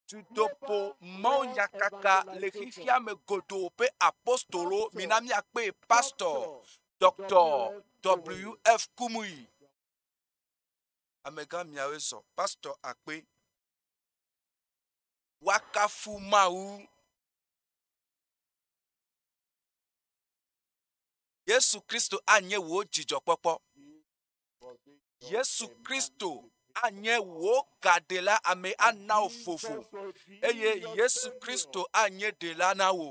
Dutoƒo mawunyakaka le xexea me godoo ƒe apostolo, mina míakpee pastɔ Dɔktɔ WF Kumuyi. Amegã miawoe zɔ pastɔ akpe. Wakafu Mawu. Yesu Kristo anye wò dzidzɔkpɔkpɔ. Yesu Kristo anye wò gaɖela ame ana wò vovo eye Yesu Kristo anye ɖela na wò.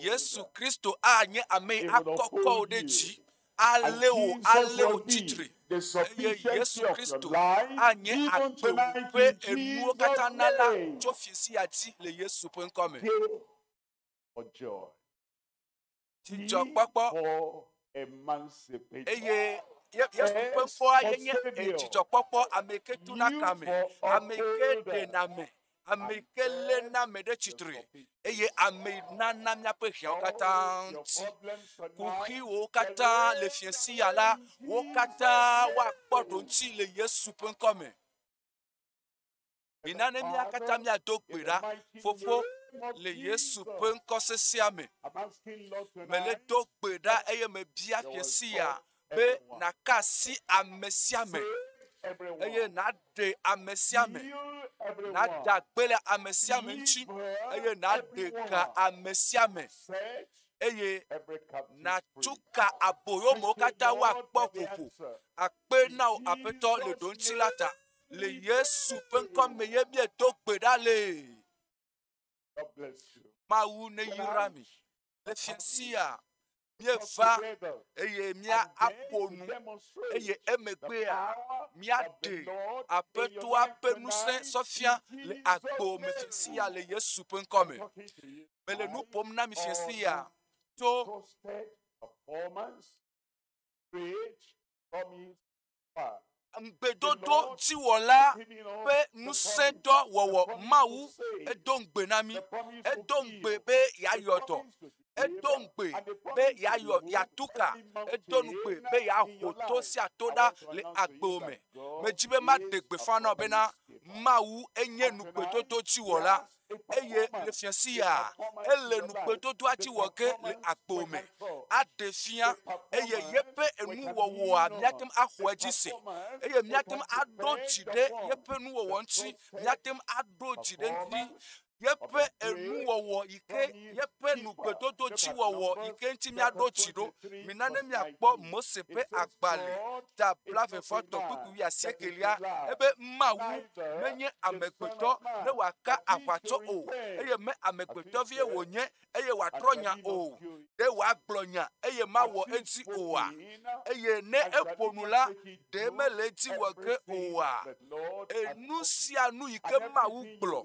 Yesu Kristo anye ame akɔkɔ wò ɖe dzi alé wò alé wò titre eye Yesu Kristo anye agbe wò ƒe enuwo katã na la tso fi si ati le Yesu ƒe ŋkɔ me. dzidzɔkpɔkpɔ eye Yesu ƒe fɔa yenye dzidzɔkpɔkpɔ ame ke tu na kame, ame ke ɖena me, ame ke lé na me ɖe tsitre eye ame nana míaƒe hiawo katã ti. Kuxiwo katã le fiase ya la, wo katã woakpɔ ɖoŋti le Yesu ƒe ŋkɔ me. Mina ne mía katã míado gbe ɖa, Fofo, le Yesu ƒe ŋkɔ sesea me. Mele do gbe ɖa eye mebia fie sia be nàka asi ame sia me eye nàɖe ame sia me, nàde agbe le ame sia me ŋuti eye nàɖe ga ame sia me eye nàtu ka aboyomewo katã woakpɔ ƒoƒo akpe na wò aƒetɔ le ɖoŋuti la ta. Le Yesu ƒe ŋkɔ me ye bia do gbe ɖa le. Mawu ne yra mi. Le fiasia míeva eye mía aƒo nu eye emegbea míaɖe aƒetoa ƒe ŋusẽ sɔfia le agbo me fiasia le Yesu ƒe ŋkɔ me. Mele nu ƒom na mi fiasia tso. Faith, promise, Ŋugbedodo dziwɔla ƒe ŋusẽdɔ wɔwɔ Mawu edo ŋugbe na mí. Edo ŋugbe be yeayɔ dɔ. Edo ŋugbe be yeayɔ yeatu ka. Edo ŋugbe be yeaho to sia to ɖa le agbe me. Medi be maɖe gbeƒã na wò bena Mawu enye ŋugbedodo dziwɔla. Eye le fiasia, ele nugbedodoa dzi wɔ ge le agbo me aɖe fia, eye yeƒe enuwɔwɔa míate ŋu axɔ edzi se, eye míate ŋu aɖo dzi ɖe yeƒe nuwɔwɔ ŋuti, míate ŋu aɖo dzi ɖe eŋuti, yeƒe enuwɔwɔ yi ke. yeƒe nugbedododziwɔwɔ yi ke ŋuti míaɖo dzi ɖo. Mina ne míakpɔ Mose ƒe agbalẽ ta blavetɔ̃tɔ̃ kple kpukpui wuiasiekelia ebe Mawu menye amegbetɔ ne wòaka aʋatsɔ o eye me amegbetɔ vie wònye eye wòatrɔ nya o. Ɖe wòagblɔ nya eye mawɔ edzi oa? Eye ne eƒo nu la, ɖe mele ŋuti wɔ ke oa? Enu sia nu yi ke Mawu gblɔ,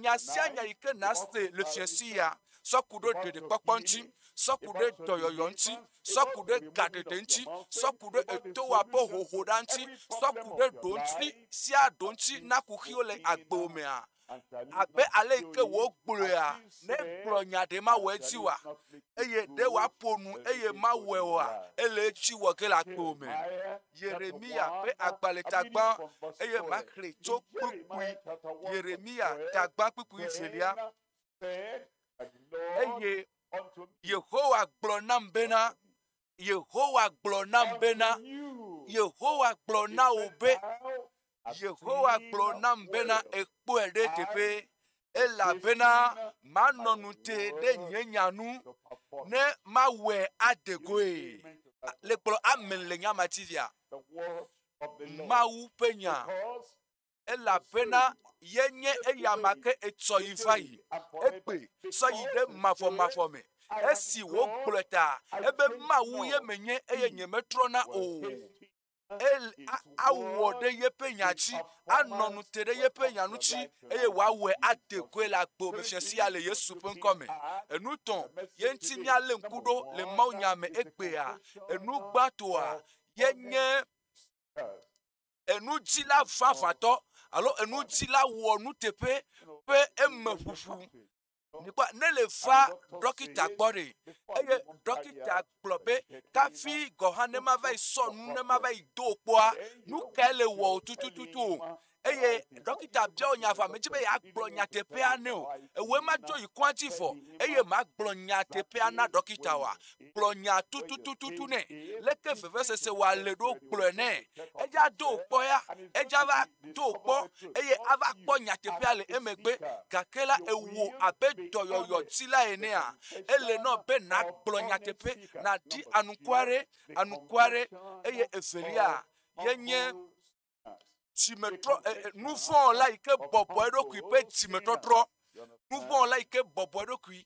nya sia nya yi ke nàse le fiase ya, sɔ ku ɖe ɖeɖekpɔkpɔ ŋuti, sɔ ku ɖe dɔyɔyɔ ŋuti, sɔ ku ɖe gaɖeɖe ŋuti, sɔ ku ɖe etoa ƒe hohoɖa ŋuti, sɔ ku ɖe ɖoŋuti sia ɖoŋuti na kuxiwo le agbewo mea, Abe ale yi ke wògblɔea, ne egblɔ nya ɖe mawɔ edzi oa? Eye ɖe wòaƒo nu eye mawɔe oa? Ele edzi wɔ ge le agbewo me. Yeremiya ƒe agbalẽ tagbã, eye maxlẽe tso kpukpui. Yeremiya tagbã kpukpui evelia. Eye Yehowa gblɔ nam bena, Yehowa gblɔ nam bena, Yehowa gblɔ na wò be, Yehowa gblɔ nam bena ekpɔe ɖe teƒe, elabena manɔ nu te ɖe nye nya nu, ne mawɔe ade goe. Le kplɔ amen le nyama tivia. Mawu ƒe nya. elabena yenye eyama ke etsɔ yi va yi. Egbe sɔ yi ɖe mavɔmavɔ me. Esi wògblɔe ta ebe Mawu ye menye eye nyemetrɔna o. El awɔ ɖe yeƒe nya dzi, anɔ nu te ɖe yeƒe nya ŋuti, eye wòawɔe ade goe le agbe me fia sia le Yesu ƒe ŋkɔ me. Enu tɔ̃ ye ŋuti míalé ŋku ɖo le mawunya me egbea. Enu gbãtɔa ye nye enudzila vavãtɔ alo enudzila wɔ nuteƒe ƒe emeƒoƒo mikpɔ ne le va ɖɔkita gbɔ ɖe eye ɖɔkita gblɔ be kafi gɔ̃ hã ne mava yi sɔ nu ne mava yi do kpɔa nu kae le wɔ o tutututu o eye ɖɔkita biawo nya vɔ ame dzi be yeagblɔ nyateƒea ne o ewoe ma dzo yi kɔa dzi vɔ eye magblɔ nyateƒea na ɖɔkita wa gblɔ nya tutututu nɛ leke vevesese wɔ ale ɖo gblɔe nɛ edza do kpɔ ya edza va do kpɔ eye ava kpɔ nyateƒea le emegbe gake la ewo abe dɔyɔyɔ ti la enea ele nɔ be nàgblɔ nyateƒe nàdi anukuare anukuare eye evelia yenye dzimetrɔ nu vɔ̃ la yi ke bɔbɔ eɖokui ƒe dzimetɔtrɔ nu vɔ̃ la yi ke bɔbɔ eɖokui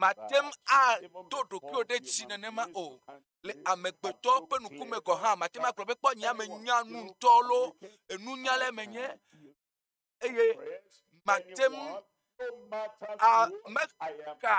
Màte ŋu aɖo ɖokuiwò ɖe dzi nenema o. Le amegbetɔ ƒe ŋku me gɔ̃ hã, màte ŋu agblɔ be, Kpɔ nye ame nya nu ŋutɔ loo, nunyalae menye. Eye màte ŋu amexa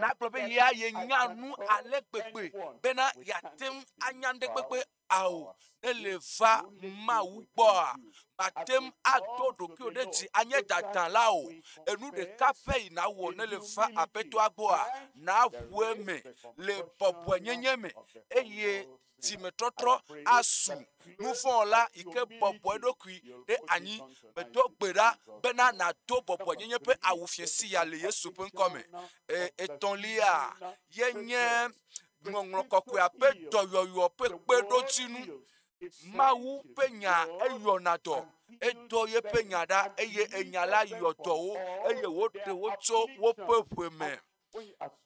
nagblɔ be yea yenya nu ale gbegbe bena yeate ŋu anya nuɖe kpekpe ao ne le va Mawu gbɔa, màte ŋu aɖo ɖokuiwò ɖe dzi anye dadala o. Enu ɖeka pɛ yi nàwɔ ne le va Aƒetɔa gbɔa, nàʋu eme le bɔbɔenyenye me eye dzimetɔtrɔ asu nuvɔ̃la yi ke bɔbɔ eɖokui ɖe anyi. Medo gbe ɖa bena nàdo bɔbɔenyenye ƒe awu fiẽ sia le Yesu ƒe ŋkɔ me. Etɔ̃lia ye nye Ŋɔŋlɔ Kɔkɔea ƒe dɔyɔyɔ ƒe kpeɖodzinu. Mawu ƒe Nya eyɔna dɔ. Edɔ yeƒe Nya ɖa eye enya la yɔ dɔwo eye wòɖe wo tso woƒe ʋe me.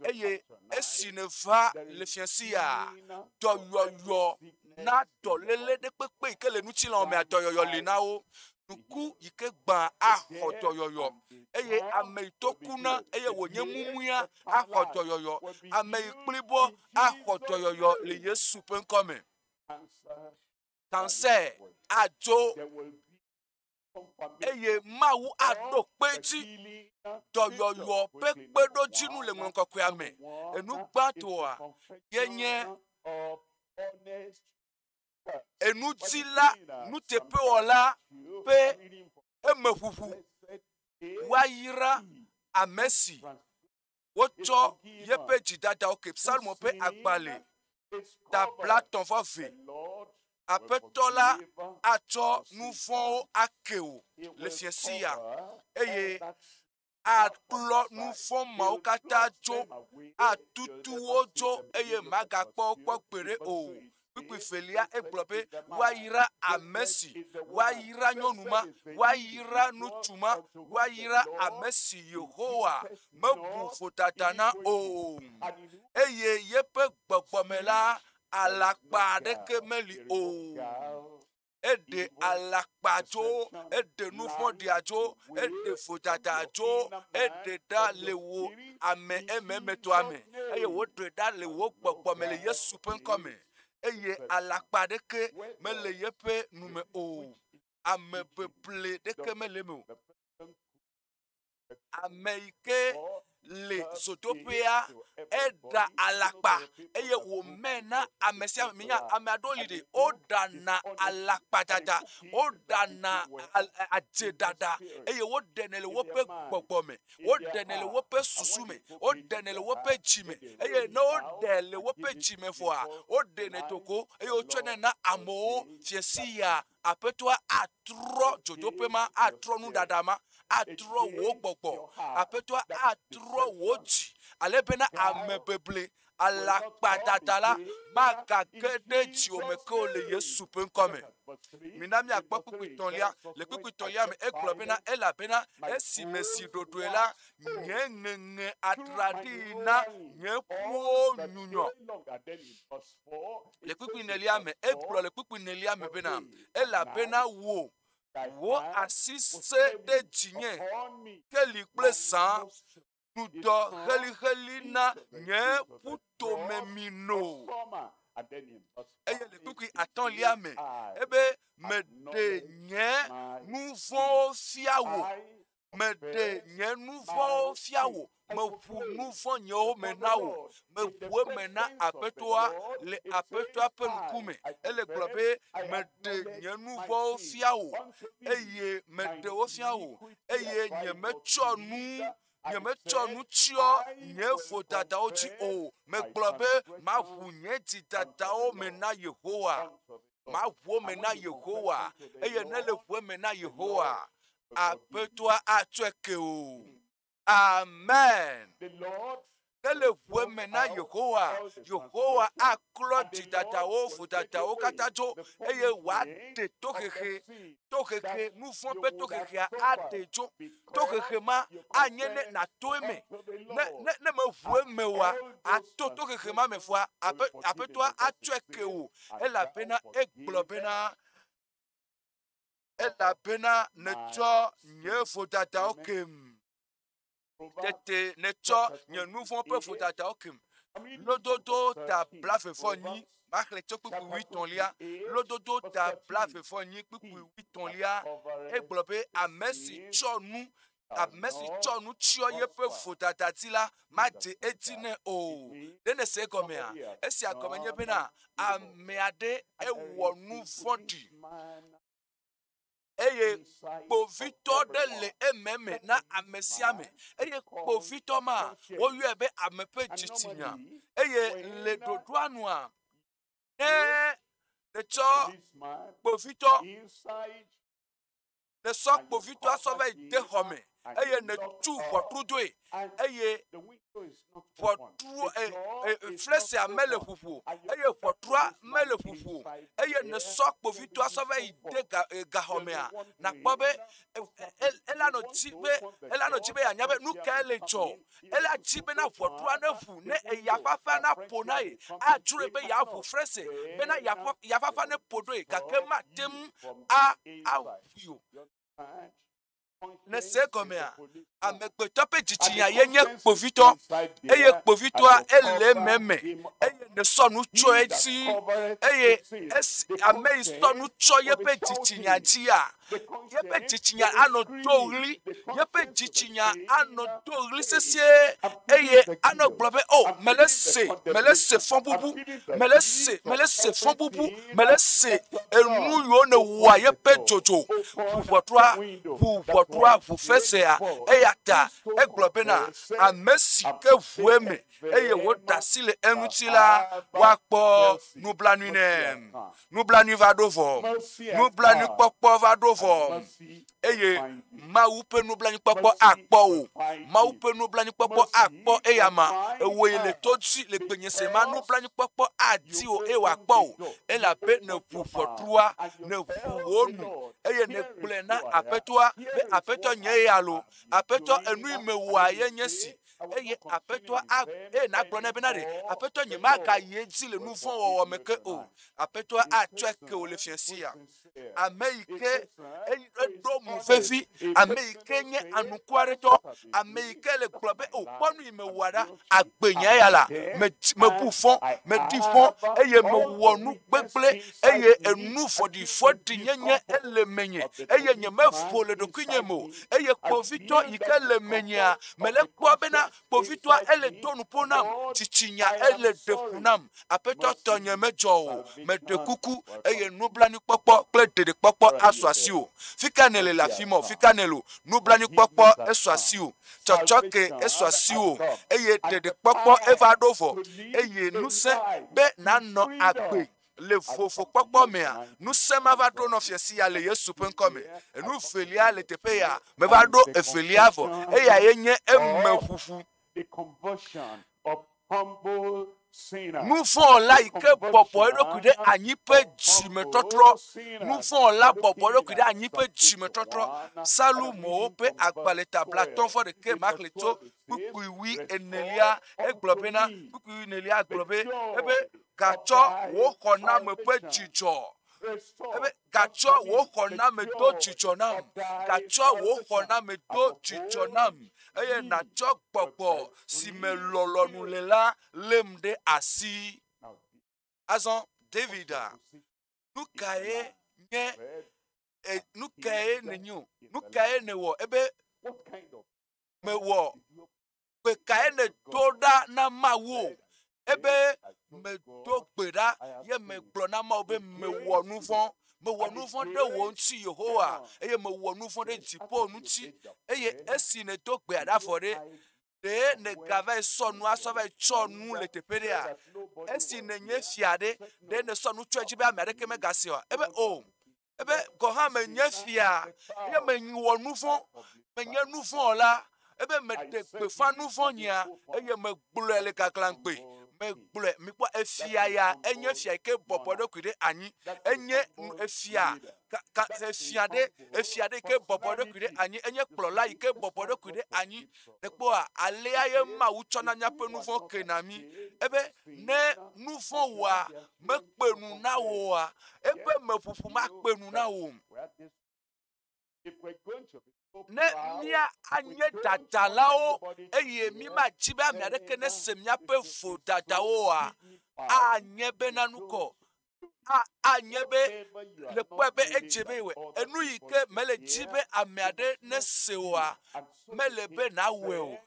Eye esi nèva le fiasia, dɔyɔyɔ na dɔléle ɖekpekpe yi ke le ŋutilãwo mea, dɔyɔyɔ li na wo. Nuku yi ke gbã axɔ dɔyɔyɔ eye ame yi to kuna eye wònye mumuia axɔ dɔyɔyɔ. Ame yi kpli bɔ axɔ dɔyɔyɔ le Yesu ƒe ŋkɔ me. Kansɛ adzo eye Mawu aɖo kpe dzi. Dɔyɔyɔ ƒe kpeɖodzinu le ŋlɔ kɔkɔea me. Enu gbãtɔa ye nye enuti la nuteƒewɔla ƒe emeƒoƒo. Woayra ame si wotsɔ yeƒe dzidadawo ke psalmo ƒe agbalẽ dabla tɔ̃ vɔ vɛ. Aƒetɔ la atsɔ nu vɔ̃wo ake wò le fiasia eye aklɔ nu fɔ̃ mawo katã tso, atutu wo tso, eye magakpɔ wo kpɔ gbeɖe o. Kpukpui velia egblɔ be, Woayra ame si, woayra nyɔnu ma, woayra ŋutsu ma, woayra ame si Yehowa mebu vodada na o, eye yeƒe gbɔgbɔ me la, alakpa aɖeke meli o. eɖe alakpa tso, eɖe nu vɔ̃ɖia tso, eɖe vodada tso, eɖe ɖa le wò ame ememetɔa me eye woɖe ɖa le wò gbɔgbɔ me le Yesu ƒe ŋkɔ me eye alakpa ɖeke mele yeƒe nu me o. Ame ƒeƒle ɖeke mele eme o. Ame yi ke le zodoƒea eɖa alakpa eye wòmɛ na ame sia ame. Nya ame aɖewo li ɖi, woɖana alakpaɖaɖa, woɖana al e adzeɖaɖa eye woɖenɛ le woƒe gbɔgbɔ me. Woɖenɛ le woƒe susu me. Woɖenɛ le woƒe dzi me eye ne woɖe le woƒe dzi me vɔa, woɖenɛ do go eye wotsɔnɛ na amewo fiasiaa. Aƒetɔa atrɔ dzodoƒe ma, atrɔ nuɖaɖa ma, atrɔ wò gbɔgbɔ. Aƒetɔa atrɔ wò dzi ale bena ame beble alakpadada la magage ɖe dziwò me ke o le Yesu ƒe ŋkɔ me. Mina míakpɔ kpukpuitɔ̃lia. Le kpukpuitɔ̃lia me, egblɔ bena, elabena esi mesi ɖoɖoe la, nye ŋeŋe atraɖii na nye ƒuwo nyunyɔ. le kpukpui nelia me egblɔ le kpukpui nelia me bena elabena wò wò asi se ɖe dzinye keli kple zã dudɔ xelixeli na nye ƒutome mi no eye le kpukpui atɔ̃lia me ebe meɖe nye nu vɔ̃wo fia wò Meɖe nye nu vɔ̃wo fia wò, meʋu nu vɔ̃ nyewo me na wò, meʋu eme na Aƒetɔa le Aƒetɔa ƒe ŋkume. Ele gblɔ be, meɖe nye nu vɔ̃wo fia wò, eye meɖe wo fia wò, eye nyemetsɔ nu nyemetsɔ nu tsyɔ nye vodadawo dzi o. Megblɔ be, maʋu nye dzidadawo me na Yehowa. maʋuwo me na Yehowa, eye ne le ʋue me na Yehowa, aƒetɔa atsɔe ke o. Amen. Ne le ʋue me na Yehowa, Yehowa aklɔ dzidadawo, vodadawo katã dzo, eye wòaɖe tohehe tohehe, nu vɔ̃ ƒe tohehea aɖee tso. Tohehe ma anye ne nàto eme. Ne, ne, ne mèʋu eme oa, àto tohehe ma me vɔa, aƒe, aƒetɔa atsɔe ke wò. Elabena egblɔ bena, elabena nètsɔ nye vodadawo kem. Tete nètsɔ nye nu vɔ̃ ƒe vodadawo kem. Lododo ta blaevefɔnyi, maxlẽ tso kpukpui wuitɔ̃lia. Lododo ta blaevefɔnyi kpukpui wuitɔ̃lia. Egblɔ be ame si tsɔ nu ame si tsɔ nu tsyɔ yeƒe vodada dzi la madze edzi nɛ o. Ɖe nèse egɔmea? Esia gɔme nye bena ame aɖe ewɔ nu vɔ̃ɖi. eye kpovitɔ ɖe le eme me na ame sia ame eye kpovitɔ ma woyɔe be ame ƒe dzitsinya eye le ɖoɖoa nua ne etsɔ kpovitɔ esɔ kpovitɔa sɔ va yi de xɔ me. eye nètu ʋɔtrudzoe, eye ʋɔtru e, e, flesia mele ƒoƒo o, eye ʋɔtrua mele ƒoƒo o, eye nèsɔ kpovitɔa sɔ va yi de ga, e, gaxɔmea, nàkpɔ be elanɔ ti be elanɔ ti be yeanya be nu kae le dzɔ. Ela di bena ʋɔtrua neʋu ne eya fafa naƒo na ye. Adzroe be yeaʋu flese bena ya fafa neƒo ɖoe gake mate ŋu aʋui o. Nèse egɔmea? Amegbetɔ ƒe dzitsinya ye nye kpovitɔ, eye kpovitɔa ele eme me, eye nèsɔ nu tsyɔ edzi, eye esi ame yi sɔ nu tsyɔ yeƒe dzitsinya dzia, yeƒe dzitsinya anɔ do ʋli, yeƒe dzitsinya anɔ do ʋli sesĩe, eye anɔ gblɔ be, O! Mele ese, mele ese fɔbubu, mele ese, mele ese fɔbubu. mele se enu yiwo nèwɔa ye ƒe dzodzo ʋu ʋɔtrua ʋu ʋɔtrua ʋu fesea eya ta egblɔ bena ame si ke ʋue me eye wòda asi le eŋuti la woakpɔ nublanui nɛ nublanui va ɖo vɔ nublanui kpɔkpɔ va ɖo vɔ eye Mawu ƒe nublanuikpɔkpɔ akpɔ o. Mawu ƒe nublanuikpɔkpɔ akpɔ eya ma. Ewoe le to dzi le gbenye se ma nublanuikpɔkpɔ adi o eye wòakpɔ o. Elabe nèʋu ʋɔtrua, nèʋu wò nu eye nègblɔe na Aƒetɔa be Aƒetɔ nye ya lo. Aƒetɔ enui mewɔa ye nye si eye aƒetɔa eye nàgblɔ nɛ bena ɖe aƒetɔ nyemagayi edzi le nu vɔ̃ wɔwɔ me ke o. Aƒetɔa atsɔe ke wò le fiasia. ame yi ke eɖo mo vevi, ame yi ke nye anuku aɖetɔ, ame yi ke le gblɔ be o oh, kpɔ nu yi mewɔa ɖa, agbe nye ya la, mebu fɔ, medi fɔ, eye mewɔ nu gbegblẽ, eye enu vɔɖivɔɖi nyenye ele menye, eye nyemevo le ɖokuinye me o, eye kpovitɔ yi ke le menyea, mele kpɔ bena Kpovitɔa ele do nuƒo nam, tsitsinya ele ɖe fu nam. Aƒetɔ tɔ nye medzɔ o, meɖe kuku, eye nublanuikpɔkpɔ kple ɖeɖekpɔkpɔ asu asiwò. Fika nèle le afi ma o, fika nèle o, nublanuikpɔkpɔ esu asiwò, tsɔtsɔke esu asiwò, eye ɖeɖekpɔkpɔ eva ɖo vɔ, eye ŋusẽ be nànɔ agbe. Le vovokpɔkpɔ mea, ŋusẽ ma va ɖo nɔ fia sia le Yesu ƒe ŋkɔ me. Enu velia le teƒe ya meva ɖo evelia vɔ, eya ye nye emeʋuʋu. Nuvɔ̃la yi ke bɔbɔ eɖokui ɖe anyi ƒe dzimetɔtrɔ. Nuvɔ̃la bɔbɔ eɖokui ɖe anyi ƒe dzimetɔtrɔ. Salomowo ƒe agbalẽ ta blatɔ̃ vɔ ɖekɛ ma xlẽ tso kpukpuiwui enelia. Egblɔ bena, kpukpuiwui enelia gblɔ be, ebe Gatsɔ wò xɔname ƒe dzidzɔ. Ebe gatsɔ wò xɔname do dzidzɔ nam. Gatsɔ wò xɔname do dzidzɔ nam. Eye natsɔ gbɔgbɔ si me lɔlɔ̃nu le la lém ɖe asi. Azɔ Davida, nu kae nye e, nu kae nenyo? Nu kae newɔ ebe mewɔ gbe kae nèdo ɖa na Mawu? Ebe medo gbe ɖa ye megblɔ na Mawu be mewɔ nu vɔ̃. Mewɔ nu vɔ̃ ɖe wò ŋuti Yehowa eye mewɔ nu vɔ̃ ɖe dziƒo ŋuti eye esi nèdo gbea ɖa vɔ ɖe, ɖe nègava yi sɔ nua sɔ va yi tsɔ nu le teƒe ɖea? Esi nènye fia ɖe, ɖe nèsɔ nu tsɔe dzi be ame aɖeke megasee oa? Ebe o. Oh, ebe gɔ̃ hã menye fia, eye mewɔ nu vɔ̃, menye nu vɔ̃ wɔla, ebe meɖe gbeƒã nu vɔ̃ nyea, eye megblɔe le gaglãgbe. Megblɔe, mikpɔ efia ya, enye fia yi ke bɔbɔ eɖokui ɖe anyi, enye efia ka efia ɖe efia ɖe ke bɔbɔ eɖokui ɖe anyi, enye kplɔla yi ke bɔbɔ eɖokui ɖe anyi. Ekpɔa alea ye Mawu tsɔna míaƒe nu vɔ̃ kena mí ebe ne nu vɔ̃ wɔa mekpe nu na wò oa? Eƒe meƒoƒo makpe nu na wò. Ne mía anye dadalawo eye mímadi be ame aɖeke nese míaƒe vodadawo oa, anye be nanu kɔ. Anye be le kpɔe be edze be wɔ enu yi ke mele di be ame aɖe nese oa, mele be nawɔe o.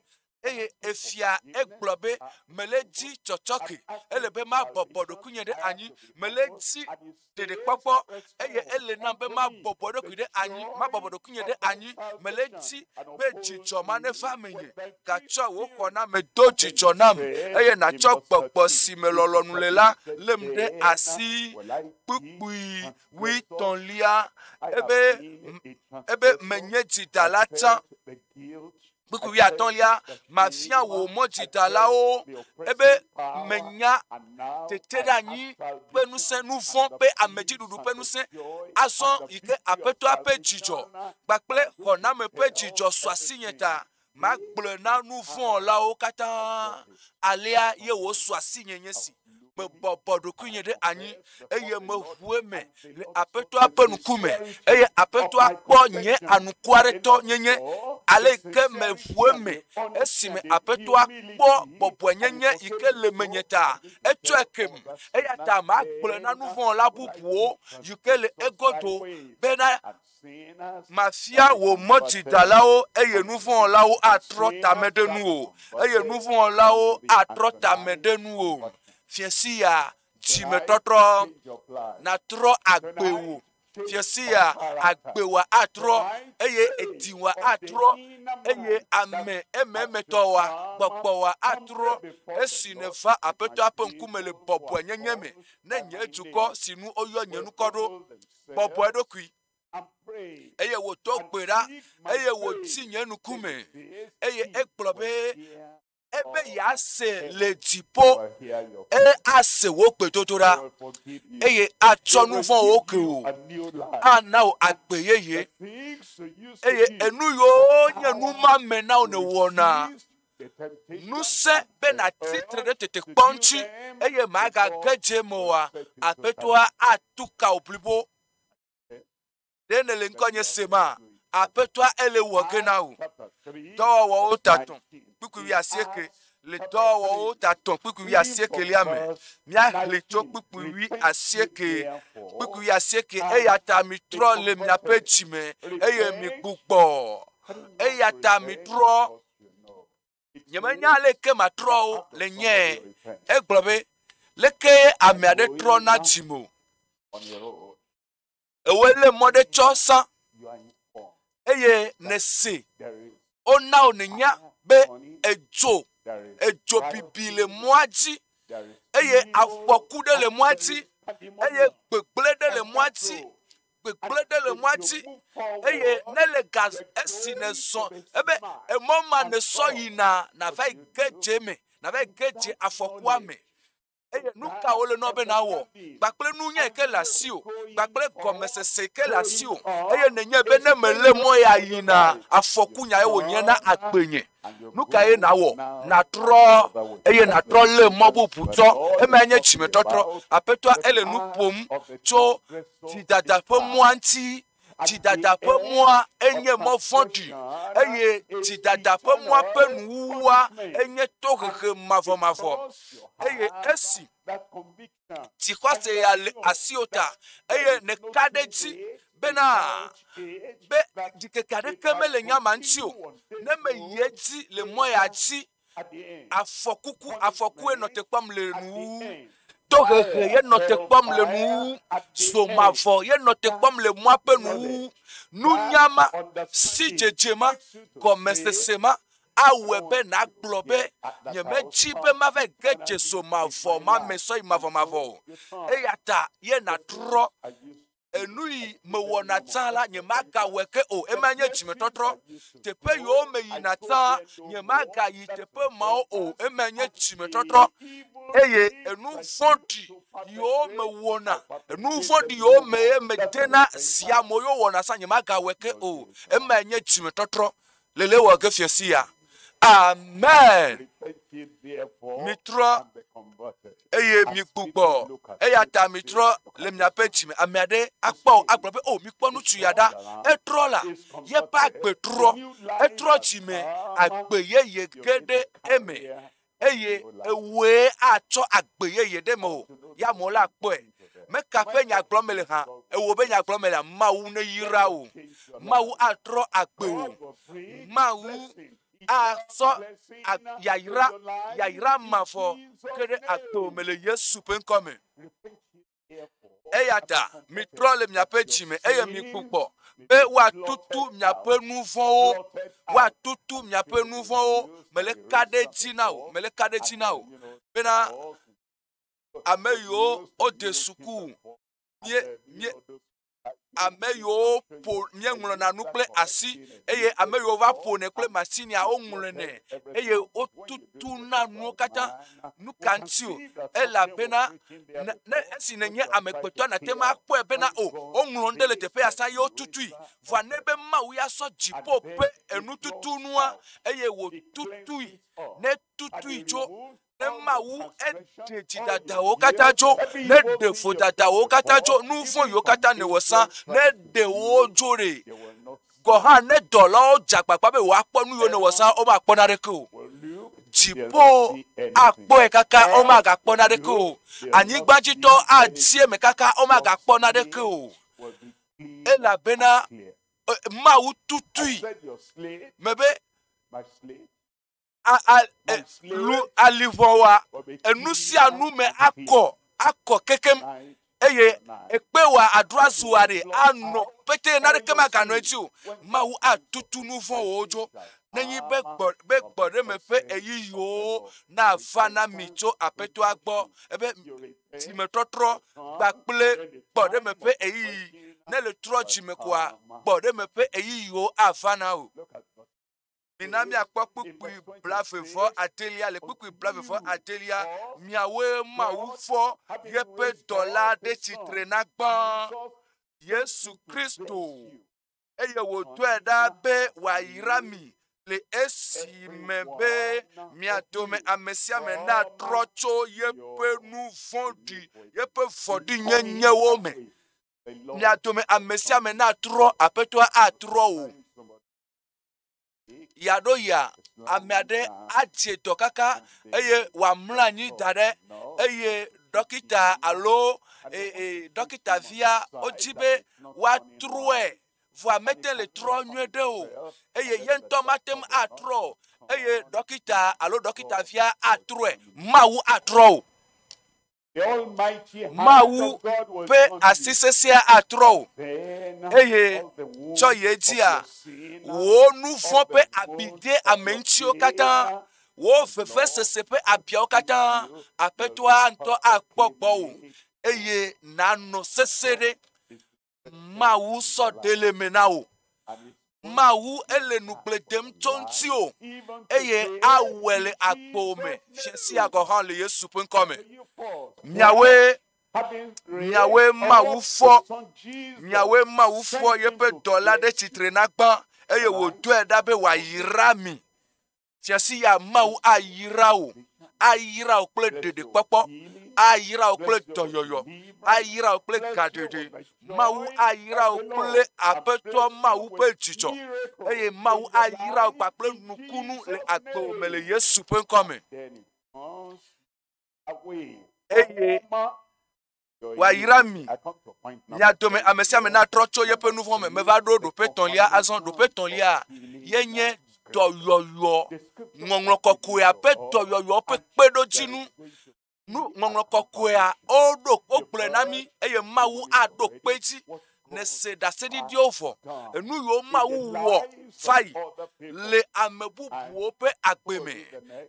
eye efia egblɔ be mele edzi tsɔtsɔke. Ele be mabɔbɔ ɖokuinye ɖe anyi. Mele edzi ɖeɖekpɔkpɔ eye ele nam be mabɔbɔ ɖokui ɖe anyi, mabɔbɔ ɖokuinye ɖe anyi. Mele edzi be dzidzɔ ma neva menye. Gatsɔ wò xɔname do dzidzɔ nam eye nàtsɔ gbɔgbɔ si me lɔlɔ̃nu le la lém ɖe asi kpukpui wuietɔ̃lia ebe, ebe menye dzidala tsã. kpukpui wuiatɔ̃lia, mafia wò mɔdzidalawo ebe menya teteɖeanyi ƒe ŋusẽ, nu vɔ̃ ƒe amedziɖuɖu ƒe ŋusẽ. Azɔ yi ke Aƒetɔa ƒe dzidzɔ kpakple xɔname ƒe dzidzɔ su asinye ta magblɔe na nu vɔ̃ wɔlawo katã. Alea ye wòsu asinye nye si. mebɔbɔ ɖokuinye ɖe anyi eye meʋu eme le aƒetɔa ƒe ŋkume eye aƒetɔa kpɔ nye anukuaɖetɔ nyenye ale yi ke meʋu eme esime aƒetɔa kpɔ bɔbɔenyenye yi ke le menye ta etsɔe kem eya ta magblɔe na nu vɔ̃ la bubuwo yi ke le egodo bena Mafia wò mɔdzidalawo, eye nu vɔ̃ wɔlawo atrɔ ta me ɖe nuwò, eye nu vɔ̃ wɔlawo atrɔ ta me ɖe nuwò. Fia sia, dzimetɔtrɔ natrɔ agbe wò. Fia sia, agbe wòa atrɔ, eye edi wòa atrɔ, eye ame ememetɔ wòa gbɔgbɔ wòa atrɔ. Esi nèva Aƒetɔa ƒe ŋkume le bɔbɔenyenye me, ne nye dukɔ, si nu woyɔ nye ŋkɔ ɖo, bɔbɔ eɖokui eye wòdo gbe ɖa eye wòti nye nuku me eye egblɔ be ebe yease le dziƒo eye ase wò gbedodoɖa eye atsɔ nu vɔ̃wo ke wò ana wò agbe yeye eye enu yiwo nye nu ma me na wò nèwɔna ŋusẽ be nàtsi tre ɖe tetekpɔ ŋuti eye màgage dze eme oa, Aƒetɔa atu ka wò blibo. Ɖe nèle ŋkɔnye sema? Aƒetɔa ele wɔ ge na wò. Dɔwɔwɔwo tatɔ̃ kpukpui wuiasieke le dɔwɔwɔwo tatɔ̃ kpukpui wuiasiekelia me. Míaxlẽ tso kpukpui wuiasieke kpukpui wuiasieke eya ta mitrɔ le miaƒe dzime eye migbugbɔ eya ta mitrɔ Nyemenya aleke matrɔ o le nye. Egblɔ be, leke ame aɖe trɔ na dzi mo. Ewe le mɔ ɖe tsɔ sã eye nèse wona wò nènya be edzo edzo bibi le mɔa dzi eye afɔku ɖe le mɔa dzi eye gbegblẽ ɖe le mɔa dzi gbegblẽ ɖe le mɔa dzi, eye nele ga esi nèzɔ ebe emɔ ma nèsɔ yina nava yi ge dze me, nava yi ge dze afɔkua me. Eye nu ka wole nɔ be nawɔ? Gbakple nunya ke le asi o, gbakple gɔmesese ke le asi o, eye nenye be ne mele mɔ ya yina afɔku nya ye wònye na agbenye. Nu ka ye nawɔ? Natrɔ eye natrɔ lé mɔ bubu tsɔ. Ema nye tsimetɔtrɔ. Aƒetɔa ele nu ƒom tso Dzidada ƒe mɔa ŋuti. Dzidada ƒe mɔa enye mɔ vɔ̃ɖi eye dzidada ƒe mɔa ƒe nuwuwua enye tohehe mavɔmavɔ. Eye esi dzixɔse ya le asiwò ta eye nèka ɖe edzi bena be ɖikeke aɖeke mele nya ma ŋuti o, ne meyi edzi le mɔ ya dzi Afɔkuku, afɔkue nɔ te kpɔm le nu wu. Tohehe ye nɔ te kpɔm le nu wu. So mavɔ ye nɔ te kpɔm le mɔa ƒe nu wu. Nunya ma, sidzedze ma, gɔmesese ma awɔe be nàgblɔ be, Nyemedi be mava ge dze so mavɔ ma me sɔyi mavɔmavɔ o. Eya ta ye nàtrɔ enu yi mewɔna tsã la, nyemagawɔe ke o. Ema nye dzimetɔtrɔ. Teƒe yiwo meyina tsã, nyemagayi teƒe mawo o. Ema nye dzimetɔtrɔ. Eye enu vɔ̃ɖi yiwo mewɔna, enu vɔ̃ɖi yiwo me ye medena zia mo yewo wɔna tsã, nyemagawɔe ke o. Ema nye dzimetɔtrɔ. lele wɔ ge fia si ya. Amen. Mitrɔ eye migbugbɔ eya ta mitrɔ le miaƒe dzime. Ame aɖe akpɔ agblɔ be o oh, mikpɔ ŋutsu ya ɖa. Etrɔ la yeƒe agbe trɔ. Etrɔ dzime agbe yeye ge ɖe eme. eye ewɔe atsɔ agbe yeye ɖe me o, ya amewo la kpɔe. Meka ƒe nyagblɔ mele hã, ewɔ be nyagblɔ mele, Mawu neyra wò. Mawu atrɔ agbe wò. Mawu asɔ yayra, yayra mavɔ ke ɖe agbe wò me le Yesu ƒe ŋkɔ me. Eya ta mitrɔ le miaƒe dzi me eye mikpukpɔ be woatutu miaƒe nu vɔ̃wo, woatutu miaƒe nu vɔ̃wo. Mele ka ɖe dzi na o, mele ka ɖe dzi na o. Bena ame yiwo wode suku, mie, mie, ame yiwo ƒo míeŋlɔna nu kple asi eye ame yiwo va ƒonɛ kple masinia woŋlɔnɛ eye wotutuna nuwo katã. Nu ka ŋuti o? Elabena ne, ne esi nènye amegbetɔ nate ŋu akpɔe bena o woŋlɔ nu ɖe le teƒe ya sa ye wotutui. Vɔa ne be Mawu ya sɔ dziƒo ƒe enututunua eye wòtutui, ne tutui tso Ne Mawu eɖe dzidadawo katã dzo, ne ɖe vodadawo katã dzo, nu vɔ̃wo katã ne wòsa, ne ɖe wo dzo ɖe, gɔ̃ hã ne dɔlawo dze agbagba be woakpɔ nu yiwo ne wòsa, womakpɔ naneke o. Dziƒo akpɔe kaka, womagakpɔ naneke o. Anyigbadzitɔ adi eme kaka, womagakpɔ naneke o. Elabena Mawu tutui me be lu alivɔwa enu sia nu me akɔ akɔ kekem eye ekpe wa aɖo azu wa ɖe anɔ pete na ɖeke maganɔ edzi o mawu atutu nu vɔn wo dzo nenyi be gbɔ be gbɔ ɖe me ƒe eyi yiwo na va na mi tso aƒetɔa gbɔ ebe si me trɔtrɔ gba kple gbɔ ɖe me ƒe eyi ne le trɔ dzi me koa gbɔ ɖe me ƒe eyi yiwo ava na o. Mina míakpɔ kpukpui blavevɔ adelia le kpukpui blavevɔ adelia miawoe Mawu fɔ yeƒe dɔla ɖe tsitre na gbã Yesu Kristo eye wòdɔe ɖa be wòayra mi le esi me be mia dome ame sia ame natrɔ tso yeƒe nu vɔ̃ɖi yeƒe vɔ̃ɖinyenyewo me mia dome ame sia ame natrɔ aƒetɔa atrɔ o. ya ɖo ya ame aɖe adze dɔ kaka eye wòamlɔ anyi da ɖe eye ɖɔkita alo e, e, ɖɔkita via wodzi be woatrɔe vɔa mete le trɔ nyuie ɖe o eye ye ŋutɔ mate ŋu atrɔ eye ɖɔkita alo ɖɔkita via atrɔe mawu atrɔ o. Mawu ƒe asi sesẽa atrɔ o, eye tsɔ yi edzia, wò nu vɔ̃ ƒe abi de ame ŋutiwo katã, wò vevesese ƒe abiawo katã, Aƒetɔa ŋutɔ akpɔ gbɔwò, eye nànɔ sesẽ ɖe. Mawu sɔ ɖe le me na wò. Mawu ele nukple dem tso ŋutiwò eye awɔe le agbo me sia sia gɔ̃ hã le Yesu ƒe ŋkɔ me. Miawoe miawoe Mawu fɔ miawoe Mawu fɔ yeƒe dɔla ɖe tsitre na gbã eye wòdɔe ɖa be wòayra mi. Fia si ya Mawu ayra wò, ayra wò kple ɖeɖekpɔkpɔ, ayra wò kple dɔyɔyɔ, ayra wò kple gaɖeɖe. Mawu ayra wò kple Aƒetɔ Mawu ƒe dzidzɔ, eye Mawu ayra wò kpakple nukunu le agbewò me le Yesu ƒe ŋkɔ me. Eye Wòayra mi. Mia dome ame sia ame natrɔ tso yeƒe nu vɔ̃ me. Meva ɖo ɖoƒe tɔ̃lia azɔ. Ɖoƒe tɔ̃lia yenye dɔyɔyɔ, ŋɔŋlɔ kɔkɔea ƒe dɔyɔyɔ ƒe kpeɖodzinu. Nu ŋɔŋlɔ kɔkɔea woɖo wogblɔe na mí eye Mawu aɖo kpe edzi. nèse ɖaseɖiɖiwo vɔ, enu yiwo Mawu wɔ va yi le ame bubuwo ƒe agbe me.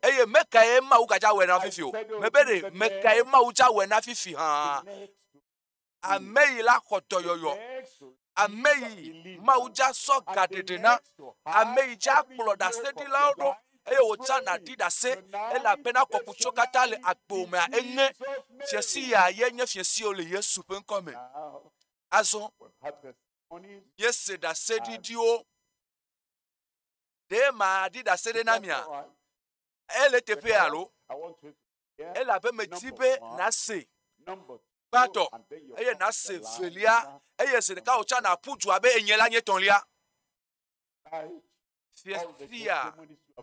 Eye mekae Mawu gadza wɔe na fifi o. Mebe ɖe mekae Mawu dza wɔe na fifi hã. Ame yi la xɔ dɔyɔyɔ. Ame yi Mawu dza sɔ gaɖeɖe na. Ame yi dza kplɔ ɖaseɖilawo ɖo. eye wòtsã nàɖi ɖase, elabena kɔkutso katã le agbo mea enye fiesi ya ye nye fiesiwo le Yesu ƒe ŋkɔ me. Azɔ míese ɖaseɖiɖiwo. Ɖe maɖi ɖase ɖe na mia? Ele teƒe alo? Elabe medi be nase gbãtɔ eye nase velia eye zi ɖeka wòtsã nàƒu du abe enye la nye tɔlia. Fiafia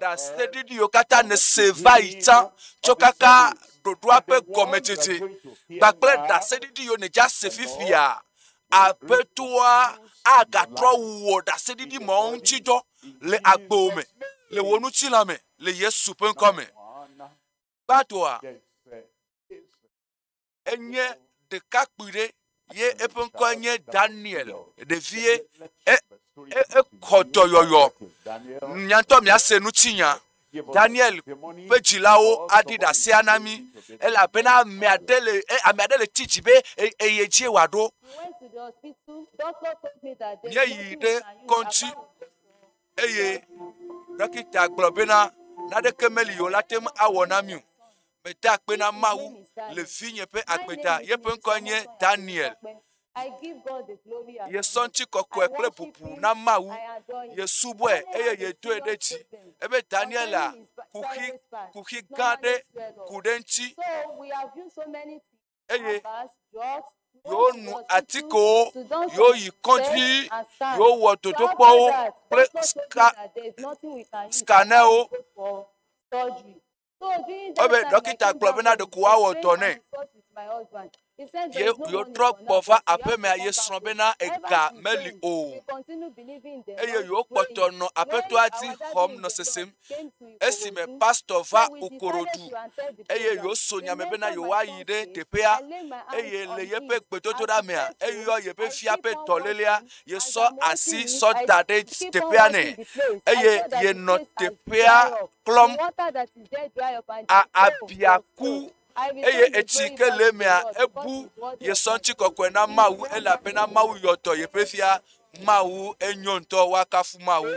ɖaseɖiɖiwo katã nèse va yi tsã tsɔ kaka ɖoɖoa ƒe gɔmedzedze kpakple ɖaseɖiɖiwo nèdze ase fifia. Aƒetɔa agatrɔ wu wò ɖaseɖiɖi mawo ŋuti dɔ le agbewòme, le wò ŋutilã me, le Yesu ƒe ŋkɔ me. Gbadɔa, enye ɖekakpui ɖe ye eƒe ŋkɔe nye Daniel, ɖevie, ekɔ dɔyɔyɔ. Nyantɔ míase ŋutinya. Daniel ƒe dzilawo aɖi ɖasea na mí elabena ame aɖe le e, ame aɖe le ti dzi be e, eye dzie wòaɖo. Míeyi ɖe kɔdzi eye ɖɔkita gblɔ bena naneke meli o la te ŋu awɔ na mí o. meda akpe na Mawu le vinye ƒe agbe ta. Yeƒe ŋkɔe nye Daniel. Yesɔ ŋuti kɔkɔe kple bubu na Mawu. Yesubɔe eye yedoe ɖe dzi. Ebe Daniela kuxi, kuxi gã ɖe ku ɖe ŋuti. Eye yewo nu atikewo, yewo yi kɔdzi, yewo wɔ dodokpɔwo kple ska, skanɛwo. ebe ɖɔkita gblɔ bena ɖeko woawɔ dɔ nɛ ye yewotrɔ gbɔ va aƒemea ye srɔ̃ bena ega meli o eye yewokpɔtɔ nɔ aƒetɔa di xɔm nɔ sesem esime pastɔ va okorodu eye yewoso nya me bena yewoayi ɖe teƒea eye le yeƒe gbedodoɖa mea eyɔ yeƒe fia ƒe dɔlélea yesɔ asi sɔ da ɖe teƒea nɛ eye yenɔ teƒea klɔm abia ku eye etsi ke le emea ebu yesɔ ŋuti kɔkɔe na mawu elabena mawu yɔ dɔ yeƒe fia mawu enyo ŋutɔ woakafu mawu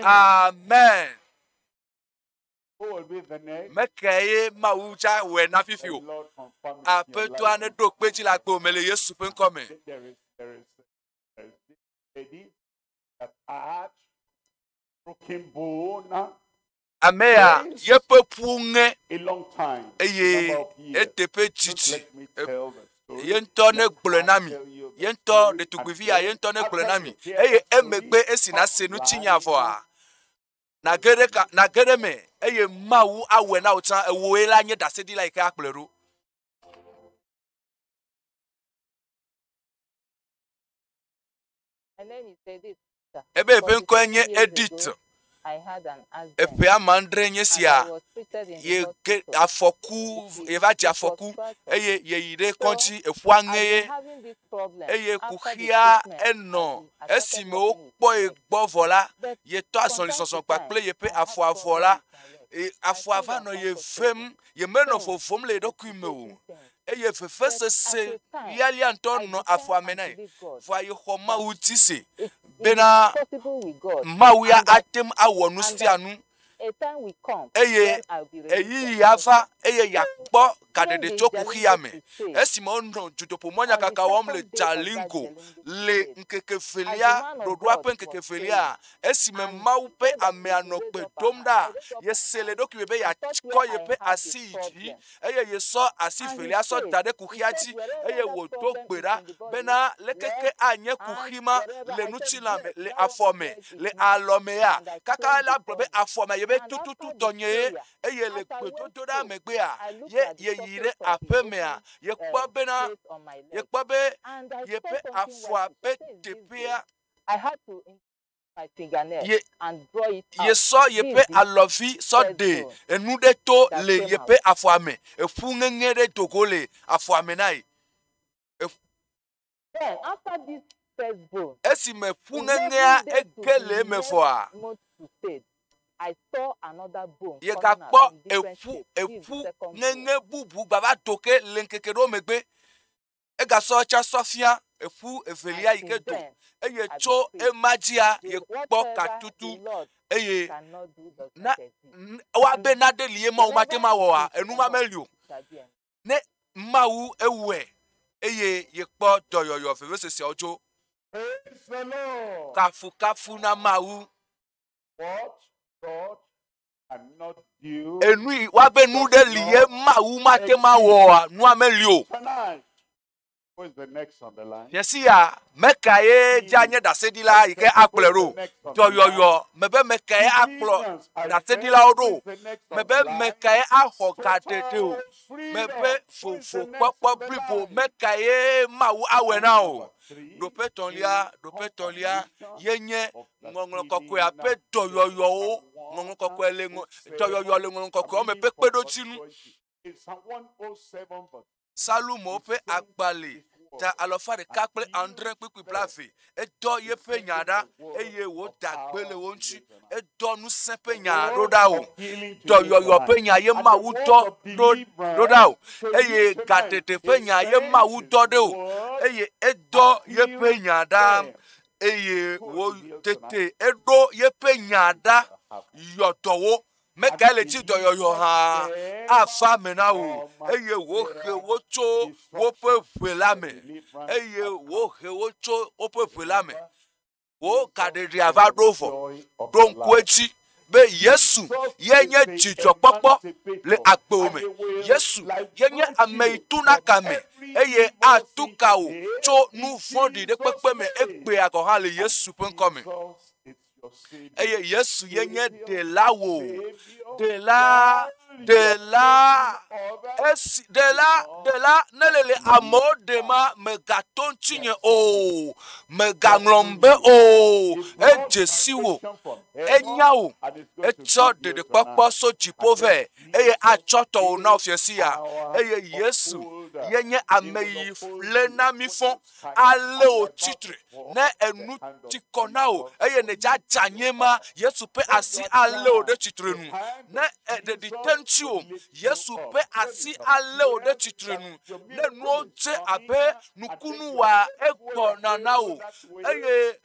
amen. Mekae ye Mawu tsa wɔe na fifi o. Aƒetɔa neɖo kpe dzi le agbo me le Yesu ƒe ŋkɔ me. Ame ya yeƒe ƒu ŋe eye eteƒe titi ye ŋutɔ ne gblɔe na mi ye ŋutɔ ɖetugbuivi ya ye ŋutɔ ne gblɔe na mi eye emegbe esi nase nu tsinya vɔa Nàge ɖe ka, nàge ɖe eme, eye Mawu awɔe na wò tsã. Ewòe la nye ɖaseɖila yi ke akplɔe ɖo. Ebe eƒe ŋkɔe nye Edith. Eƒe ame andre nye sia. Ye ke afɔku, yeva dze afɔku eye yeyi ɖe kɔdzi eƒua ŋee. eye kuxia enɔ. Esime wokpɔe gbɔ vɔ la, yetɔ azɔlizɔzɔ kpakple yeƒe afɔa vɔ la, afɔa va nɔ ye vem. Yemenɔ vovom le ye ɖokui me o, eye vevesese lialia ŋutɔ nɔ afɔa me na ye. Vɔa yexɔ Mawu ŋuti se bena Mawu ya ate ŋu awɔ nu sia nu eye ɣeyiɣi ava eye yeakpɔ gaɖeɖe tso kuxia me. Esime wonɔ dutoƒomɔnyakaka wɔm le Jalingo le ŋkeke velia, ɖoɖoa ƒe ŋkeke velia, esime Mawu ƒe amea nɔ gbe dom ɖa, yese le eɖokui me be yeakɔ yeƒe asi yi dzi eye yesɔ asi velia sɔ da ɖe kuxia dzi eye wòdo gbe ɖa bena lekeke anye kuxi ma le ŋutilã me, le afɔ me, le alɔ mea. Kaka la gblɔ be afɔ me yebe tututu tɔnyee eye le gbedodoɖa megbea ye yeyi ɖe aƒe mea yekpɔ bena yekpɔ be yeƒe afɔa ƒe teƒea yesɔ yeƒe alɔvi sɔ ɖe enu ɖe to le yeƒe afɔa me eƒu ŋeŋe ɖe do go le afɔa me na ye. Esi me ƒu ŋeŋea eke le eme vɔa, yegakpɔ eƒu eƒu ŋeŋe bubu gbava do ke le ŋkeke ɖewo megbe. egasɔ etsã sɔ fia eƒu evelia yi ke do, eye tso ema dzia yekpɔ katutu eye na ewa be naɖe li ye Mawu mate ŋu awɔa enu ma meli o. Ne Mawu ewɔe eye yekpɔ dɔyɔyɔ veveseseawo dzo. Kafukafu na Mawu. Enu yi woabe nu ɖe li ye Mawu mate ŋu awɔa, nua meli o. Nye si ya, meka ye dze anye ɖaseɖila yi ke akplɔe ɖo? Dɔyɔyɔ mebe meka ye akplɔ ɖaseɖilawo ɖo? Mebe meka ye axɔ gaɖeɖe o? Mebe vovokpɔkpɔ blibo meka ye Mawu awɔe na o? Ɖoƒe etɔ̃lia, ɖoƒe etɔ̃lia ye nye Ŋɔŋlɔ kɔkɔea ƒe dɔyɔyɔwo. Ŋɔŋlɔ kɔkɔe le ŋɔ, dɔyɔyɔ le ŋɔŋlɔ kɔkɔewo me ƒe kpeɖodzinu. Salomo ƒe agbalẽ ta alafa ɖeka kple adre kpukpui blaeve. Edɔ yeƒe nya ɖa eye wòda gbe le wo ŋuti. Edɔ ŋusẽ ƒe nya ɖo ɖa o. Dɔyɔyɔ ƒe nya ye Mawu dɔ ɖo, ɖo ɖa o eye gaɖeɖe ƒe nya ye Mawu dɔ ɖe o eye edɔ yeƒe nya ɖa. eye wo tete eɖo yeƒe nya ɖa yɔ dɔwo. Megae le tsi dɔyɔyɔ hã afa me na wò eye wohe wo tso woƒe ʋe la me eye wohe wo tso woƒe ʋe la me. Wò gaɖeɖea va ɖo vɔ. Ɖo ŋku edzi. be Yesu ye nye dzidzɔkpɔkpɔ le agbewo me. Yesu ye nye ame yi tuna ka me eye atu ka wò tso nu vɔ̃ɖi ɖe kpekpe me egbea gɔ̃ hã le Yesu ƒe ŋkɔ me. Eye Yesu ye nye ɖela wò, ɖela, ɖela, esi ɖela, ɖela ne le le amewo ɖe ma megato ŋutinye o, megaŋlɔm be o, edze si wò. Enya wò, etsɔ ɖeɖekpɔkpɔ so dziƒo vɛ, eye atsɔ tɔwò na wò fiasia. Eye Yesu ye nye ame yi le na mi fɔ, ale wò tsitre ne enu ti kɔ na wò, eye ne dzadza nye ma, Yesu ƒe asi alé wò ɖe tsitre nu. Ne eɖeɖi te ŋutiwò, Yesu ƒe asi alé wò ɖe tsitre nu. Ne nuwo dze abe nukunu wa egbɔna na wò, eye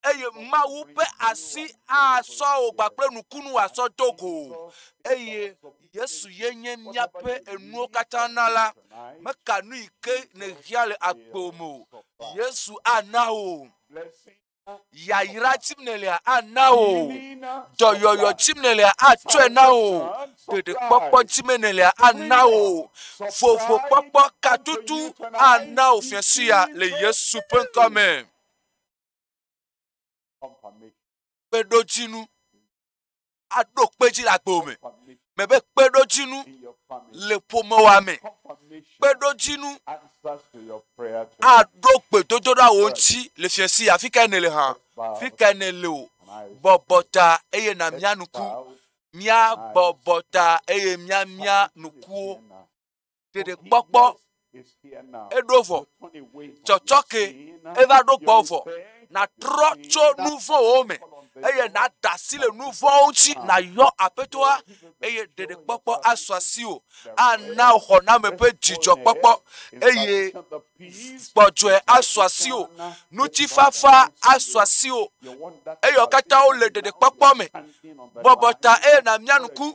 eye Mawu ƒe asi asɔ wò kpakple nukunu wòasɔ do go eye Yesu ye nye míaƒe enuwo katã na la, meka nu yi ke nèhiã le agbe me o. Yesu ana wò yayra tsim nèlea ana wò dɔyɔyɔ tsim nèlea atsɔe na wò ɖeɖekpɔkpɔ tsim nèlea ana wò vovokpɔkpɔ katutu ana wò fiasia le Yesu ƒe ŋkɔ me. kpeɖodzinu aɖo kpe dzi le agbo me me be kpeɖodzinu le ƒomewa me kpeɖodzinu aɖo gbedodoɖa wo ŋuti le fiasi afi ka ne le hã fi ka ne le o bɔbɔ ta eye na mia nuku mia bɔbɔ ta eye mia mia nukuwo. ɖeɖekpɔkpɔ eɖo vɔ tsɔtsɔke eva ɖo gbɔ vɔ nàtrɔ tso nu vɔ̃wo me eye nàda asi le nu vɔ̃wo ŋuti nàyɔ aƒetɔa eye ɖeɖekpɔkpɔ asu asiwò ana wò xɔname ƒe dzidzɔkpɔkpɔ eye gbɔdzɔe asu asiwò ŋutifafa asu asiwò eye wo katã wole ɖeɖekpɔkpɔ me bɔbɔ ta eye nàmia nuku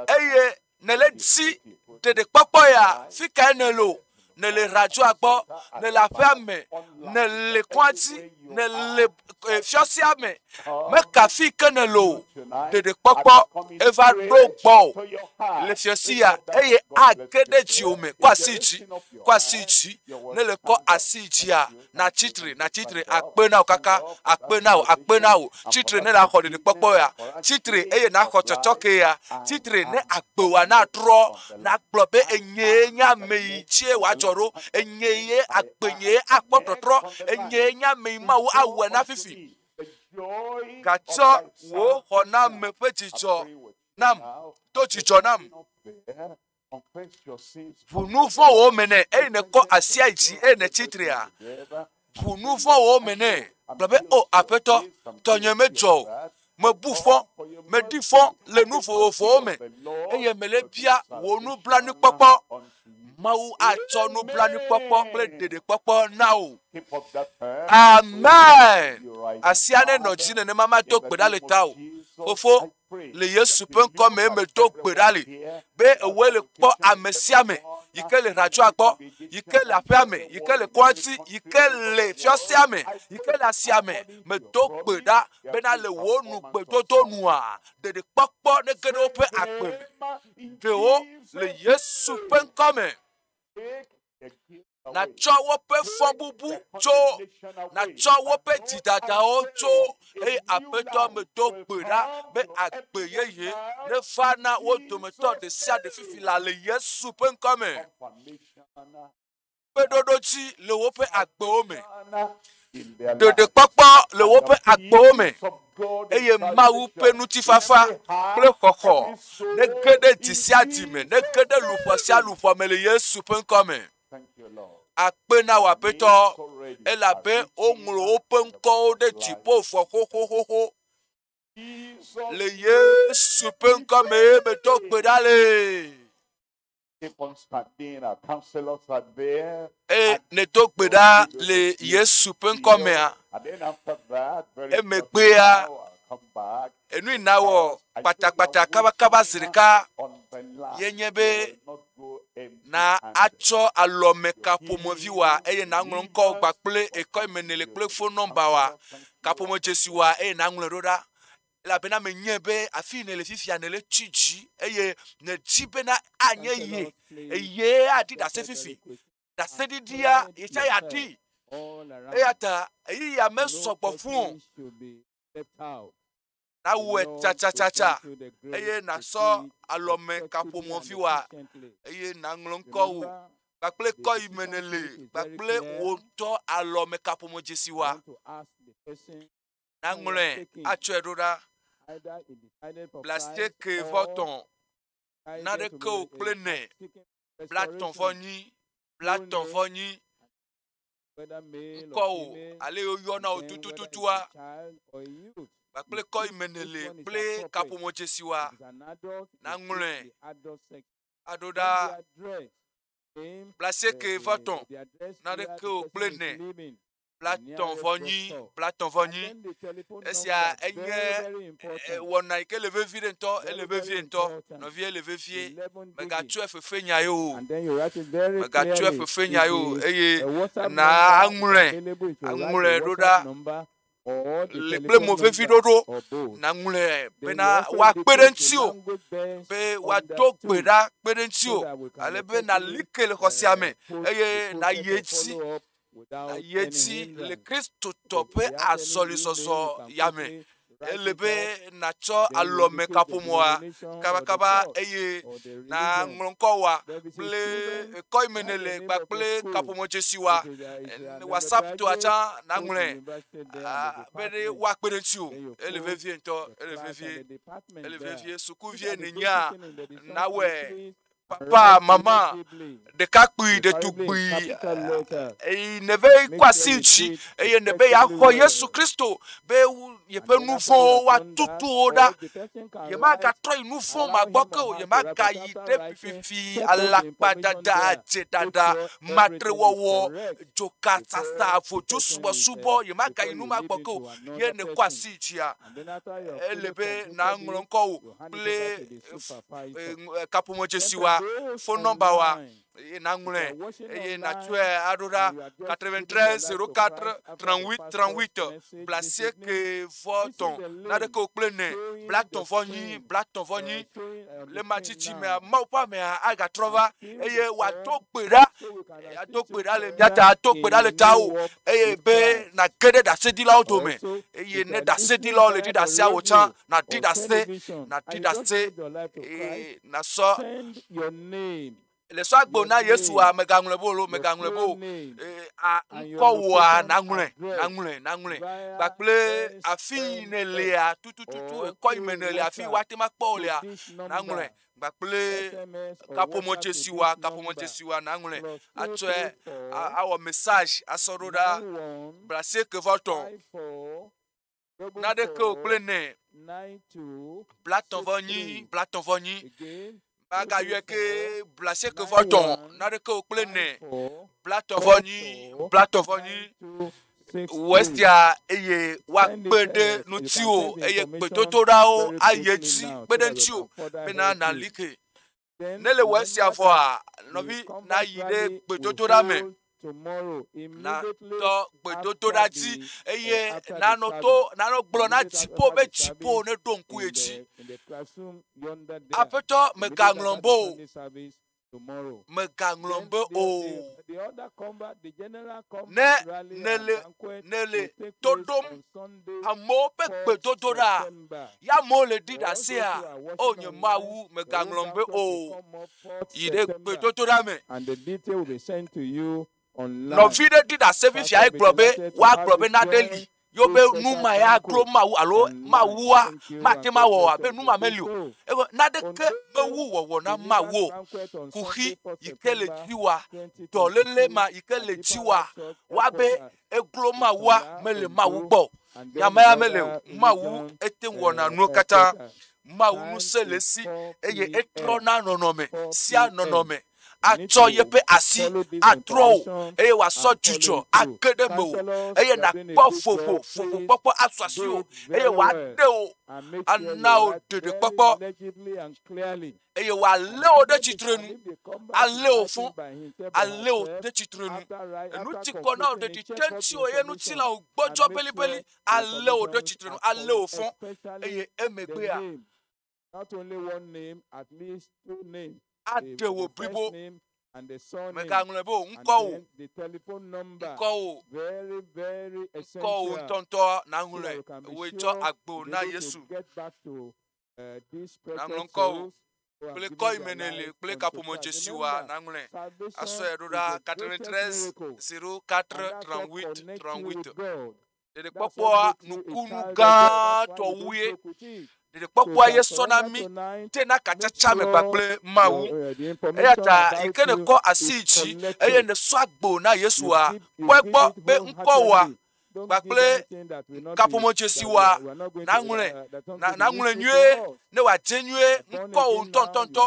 eye nèle dzi ɖeɖekpɔkpɔ ya fi kae nèle o nèle radioa gbɔ nèle aƒea me nèle kɔa dzi nèle eh, fiɔsia me meka fi ke nèle o ɖeɖekpɔkpɔ eva ɖo gbɔ o le fiɔsi ya eye age ɖe dziwò me kɔ asi dzi kɔ asi dzi nèle kɔ asi dzia natsi tre, natsi tre, akpe na wò kaka, akpe na wò, akpe na wò. Tsi tre ne nàxɔ ɖiɖikpɔkpɔ ya. Tsi tre eye naxɔ tsɔtsɔke ya. Tsi tre ne agbewoa natrɔ, nagblɔ be enyee nye ame yi tsie wòadzɔ ɖo, enye ye agbenyee akpɔ tɔtrɔ, enyee nye ame yi Mawu awɔe na fifi. Gatsɔ wò xɔname ƒe dzidzɔ nam, do dzidzɔ nam. ʋu nu vɔ̃wo me nɛ eye nèkɔ asia dzi eye nètsi trea ʋu nu vɔ̃wo me nɛ gblɔ be o aƒetɔ tɔnye medzɔ o mebu fɔ meɖi fɔ le nu vovovowo me eye mele bia wò nublanuikpɔkpɔ mawu atsɔ nublanuikpɔkpɔ kple ɖeɖekpɔkpɔ na wò amen asia nenɔ dzi nenema mato gbe ɖa le tawò fofo le Yesu ƒe ŋkɔ me eme do gbe ɖa li be ewɔe le kpɔ ame sia ame yi ke le hratsɔa gbɔ, yi ke le aƒea me, yi ke le kɔdzi, yi ke le fiasea me, yi ke le asia me. Medo gbe ɖa bena le wò nu gbedodo nua, ɖeɖekpɔkpɔ nege ɖe woƒe agbe me. Ɖewo le Yesu ƒe ŋkɔ me. natsɔ woƒe fɔbubu tso, natsɔ woƒe dzidadawo tso, eye aƒetɔ medo gbe ɖa be agbe yeye neva na wo dometɔ ɖe sia ɖe fifi la le Yesu ƒe ŋkɔ me. Kpeɖoɖo dzi le woƒe agbewo me. ɖoɖokpɔkpɔ le woƒe agbewo me eye Mawu ƒe ŋutifafa kple xɔxɔ nege ɖe dzi sia dzi me, nege ɖe luƒɔ sia luƒɔ me le Yesu ƒe ŋkɔ me. Akpe na wò aƒetɔ, elabe woŋlɔ woƒe ŋkɔwo ɖe dziƒo vɔ xoxoxoxo. Le Yesu ƒe ŋkɔ me medo gbe ɖa le. Eye nèdo gbe ɖa le Yesu ƒe ŋkɔ mea, emegbea enu yi nawɔ kpatakpata kabakaba zi ɖeka yenye be na atsɔ alɔmekaƒomevi wa eye naŋlɔ ŋkɔ gba kple ekɔ yi me nèle kple fon nɔmba wa kaƒomedzesi wa eye naŋlɔe ɖo ɖa. elabena menyae be afii nèle fifia nèle tsi dzi eye nèdi bena anye ye eye aɖi ɖase fifi ɖaseɖiɖia yesaya ɖi eya ta ɣeyiɣia mesɔgbɔ fún o nawɔe tsatsatsa eye nasɔ alɔme kaƒomɔvi wa eye naŋlɔ ŋkɔ wò kpakple kɔ yi me nèle kpakple wò ŋutɔ alɔme kaƒomɔ dzesi wa naŋlɔe atsɔe ɖo ɖa. Blasieke vɔ tɔ̃ naɖeke o kple ne blatɔ̃ vɔ nyi blatɔ̃ vɔ nyi ŋkɔ o ale woyɔna o tutututua kpakple kɔ yi me nèle kple kaƒomɔ dzesi wa naŋlɔe aɖo ɖa blasieke vɔ tɔ̃ naɖeke o kple ne. Platon vɔ nyi, Platon vɔ nyi. Esia enye eh, wɔna yi ke le vevie ɖe ŋutɔ, ele vevie ŋutɔ, nɔvie ele vevie. Megatsɔe fefe nya ye o, megatsɔe fefe nya ye o, eye na aŋlɔe, aŋlɔe ɖo ɖa le kple mo vevi ɖoɖo naŋlɔe bena woakpe ɖe ŋuti o be woado gbe ɖa kpe ɖe ŋuti o ale be nali ke le xɔsia me eye nayi edzi Ayetsi le Kristotɔ ƒe azɔlizɔzɔ ya me. Ele be nàtsɔ alɔmekaƒomɔ̃a kabakaba eye nàŋlɔ ŋkɔwòa kple ŋkɔ yi me nèle kpakple kaƒomɔ̃dzesiwoa. Whatsapptɔa tsã nàŋlɔe be ɖe woakpe ɖe ŋutiwò. Ele vevie ŋutɔ, ele vevie, ele vevie. Sukuvi nènyea, nawɔe. papa, mama, ɖekakpui, ɖetugbui, eye ne be kɔ asi ŋuti, eye ne be yeaxɔ Yesu Kristo be yeƒe nu vɔ̃wo woatutu wo ɖa. Yemagatrɔ yi nu vɔ̃ ma gbɔ ke o, yemagayi ɖe fifi, alakpadada, adzedada, matrewɔwɔ, dzokasasa, vodzosubɔsubɔ, yemagayi nu ma gbɔ ke o, ye ne kɔ asi ŋutia, ele be nàŋlɔ ŋkɔ wò kple kaƒomɔ dzesi wa fon nɔmba wa eye nàŋlɔe eye nàtsɔe aɖo ɖa quatre vingt treize zero quatre trente huit trente huit kple asieke vɔ etɔ̃ naɖeke wò kple ene bla etɔ̃ vɔ enyi bla etɔ̃ vɔ enyi le ema tsitsi mea mawu ƒe amea agatrɔ va eye wòado gbe ɖa. Ado gbe ɖa le mía ta, ado gbe ɖa le tawò, eye be nàge ɖe ɖaseɖilawo dome, eye ne ɖaseɖilawo le ɖi ɖasea wò tsã, nàɖi ɖase, nàɖi ɖase, eye nàsɔ le sɔ agbe na Yesua, mègaŋlɔe be o loo, mègaŋlɔe be o, ŋkɔ wòa naŋlɔe, naŋlɔe, naŋlɔe, kpakple afi yi nèlea, tutututu ekɔ yi me nèlea, afi yi woate ŋu akpɔ wò lea, naŋlɔe, kpakple kaƒomɔtsesiwoa kaƒomɔtsesiwoa naŋlɔe atsɔe awɔ message asɔ ɖo ɖa ble asieke va tɔ naɖeke o kple nɛ blatɔ vɔ nyi blatɔ vɔ nyi magayɔe ke ble asieke vɔ tɔ naɖeke o kple nɛ blatɔ vɔ nyi blatɔ vɔ nyi. wòesea eye woakpe ɖe ŋutiwò eye gbedodoɖawo ayi edzi kpe ɖe ŋutiwò bena nàli ke. Ne le wɔ esia vɔa, nɔvi nayi ɖe gbedodoɖa me natɔ gbedodoɖa dzi eye nanɔ to nanɔ gblɔ na dziƒo be dziƒo neɖo ŋku ye dzi. Aƒetɔ megaŋlɔm bo o. mègaŋlɔm be o. Ne nèle nèle to ɖom amewo ƒe gbedodoɖa ya amewo le ɖi ɖe asia o nye Mawu mègaŋlɔm be o. Yi ɖe gbedodoɖa me. Nɔvi ɖe ɖi ɖase fifiae gblɔ be woagblɔ be nane li yo be nu ma ya klo Mawu alo Mawua mate ŋu awɔ abe nu ma meli o. Ego naɖeke mewu wɔwɔ na Mawu o. Kuxi yi ke le dziwòa, dɔléle ma yi ke le dziwòa wɔa be eklo Mawua mele Mawu gbɔ o. Nya ma ya mele o. Mawu ete ŋu wɔna nuwo katã. Mawu ŋusẽ le esi eye etrɔna nɔnɔme sia nɔnɔme. atsɔ yeƒe asi atrɔ wò, eye wòasɔ dzudzɔ age ɖe mewò, eye nàkpɔ vovo, vovokpɔkpɔ asu asiwò, eye wòaɖe wò ana wò ɖeɖekpɔkpɔ, eye wòalé wò ɖe tsitrenu, alé wò fɔ, alé wò ɖe tsitrenu. Enu ti kɔ na wò ɖeɖi te ŋutiwò, eye ŋutilãwo gbɔdzɔ belibeli, alé wò ɖe tsitrenu, alé wò fɔ, eye emegbea, aɖe wò blibo. Mègaŋlɔe be wò ŋkɔ o, ŋkɔ wò, ŋkɔ wò ŋutɔŋutɔ nàŋlɔe. Wòe tsɔ agbo na Yesu. Nàŋlɔ ŋkɔ wò kple kɔ yi me nèle kple kaƒomɔ dzesiwoa nàŋlɔe asɔe ɖo ɖa. Quatre-vingt-treize zero quatre trente-huit trente-huit. ɖeɖekpɔkpɔa nukunu gãtɔ wue ɖeɖekpɔkpɔa ye sɔ na mí te na katsatsa me kpakple mawu eya ta yi ke nekɔ asi dzi eye nesɔ agbo na yesua kpɔe gbɔ be ŋkɔwoa kpakple kaƒomɔdzesiwoa naŋlɔe naŋlɔe nyuie ne wòadze nyuie ŋkɔwò ŋutɔŋutɔŋutɔ,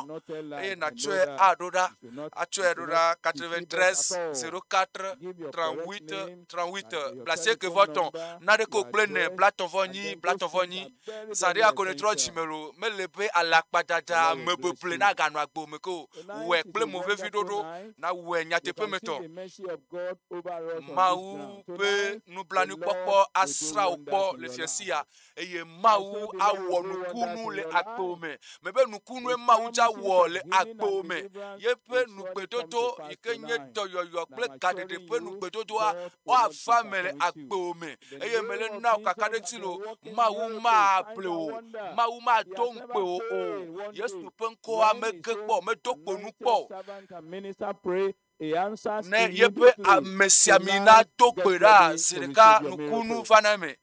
eye nàtsɔe aɖo ɖa, atsɔe ɖo ɖa 93 04 38 38 blasieke vɔ tɔn, naɖeke wò kple nɛ blatɔn vɔ nyi blatɔn vɔ nyi, zaɖe akɔnɔ trɔ dzime lo, mele be alakpadada ame beble na ganɔ agbe me ke o, wɔe kple mo vevi ɖoɖo, na wɔe nyateƒe me tɔ. Mawu ƒe nublanui kpɔkpɔ asra wò kpɔ le fiasia. eye Mawu awɔ nukunu le agbo me. Mebe nukunue Mawu dza wɔ le agbo me. Yeƒe nugbedodo yi ke nye dɔyɔyɔ kple gaɖeɖe ƒe nugbedodoa woava me le agbo me. Eye mele na wò kakaɖedzi lo, Mawu mable wò, Mawu mato ŋukpe wò o. Yesu ƒe ŋkɔa mege kpɔ, medo kponu kpɔ o. ne yeƒe amesiami nato gbe ɖa zi ɖeka nukunu va na eme.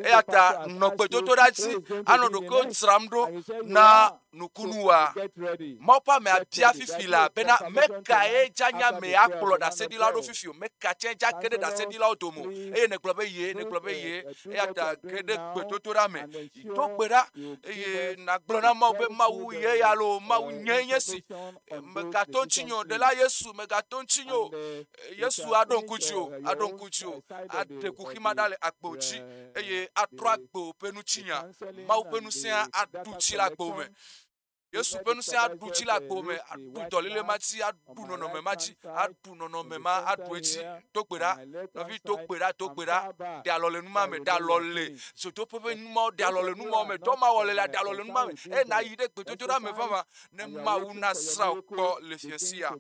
Eya ta nɔ gbedodoɖa dzi anɔ ɖokuiwo dzram ɖo na nukunua. Mawu ƒe amea bia fifi la bena mekae dzanya me akplɔ ɖaseɖilawo ɖo fifi o, meka tsɛ dza ke ɖe ɖaseɖilawo dome o eye nègblɔ be ye, nègblɔ be ye. Eya ta ge ɖe gbedodoɖa me, do gbe ɖa eye nàgblɔ na Mawu be Mawu ye ya loo, Mawu nyee nye si. mègato ŋutinye o ɖela yesu mègato ŋutinye o yesu aɖo ŋku dzi o aɖo ŋku dzi o aɖe kuxi ma ɖa le agbo dzi eye atrɔ agbo ƒe ŋutinya mawu ƒe ŋusẽa aɖu dzi le agbo me yesu ƒe ŋusẽ aɖu dzi le agbo me aɖu dɔlele ma dzi aɖu nɔnɔme ma dzi aɖu nɔnɔme ma aɖu edzi do gbe ɖa nɔvi do gbe ɖa do gbe ɖa ɖe alɔ le numa me ɖe alɔ le zodoƒe ƒe numawo ɖe alɔ le numawo me dɔ ma wɔle la ɖe alɔ le numa me eye nayi ɖe gbedodoɖa me vava ne Mawu nasrã wò kpɔ le fiasia.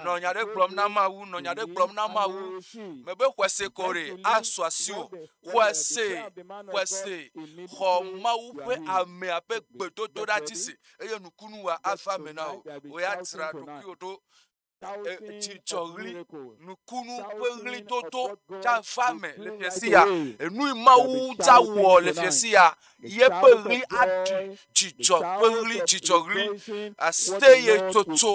Nɔ nya ɖe gblɔm na Mawu, nɔ nya ɖe gblɔm na Mawu. Mebe xɔse ko ɖe asu asi o. Xɔse, xɔse, xɔ Mawu ƒe amea ƒe gbedodoɖa dzi se eye nukunu wa ava me na wò. Wò ya dzra ɖokuiwò ɖo dzidzɔɣli, nukunu ƒe ɣlidodo dza va me le fia sia. Enu yi Mawu dza wɔ le fia sia, yeƒe ɣli aɖi dzidzɔ ƒe ɣli, dzidzɔɣli. Aseye tsotso,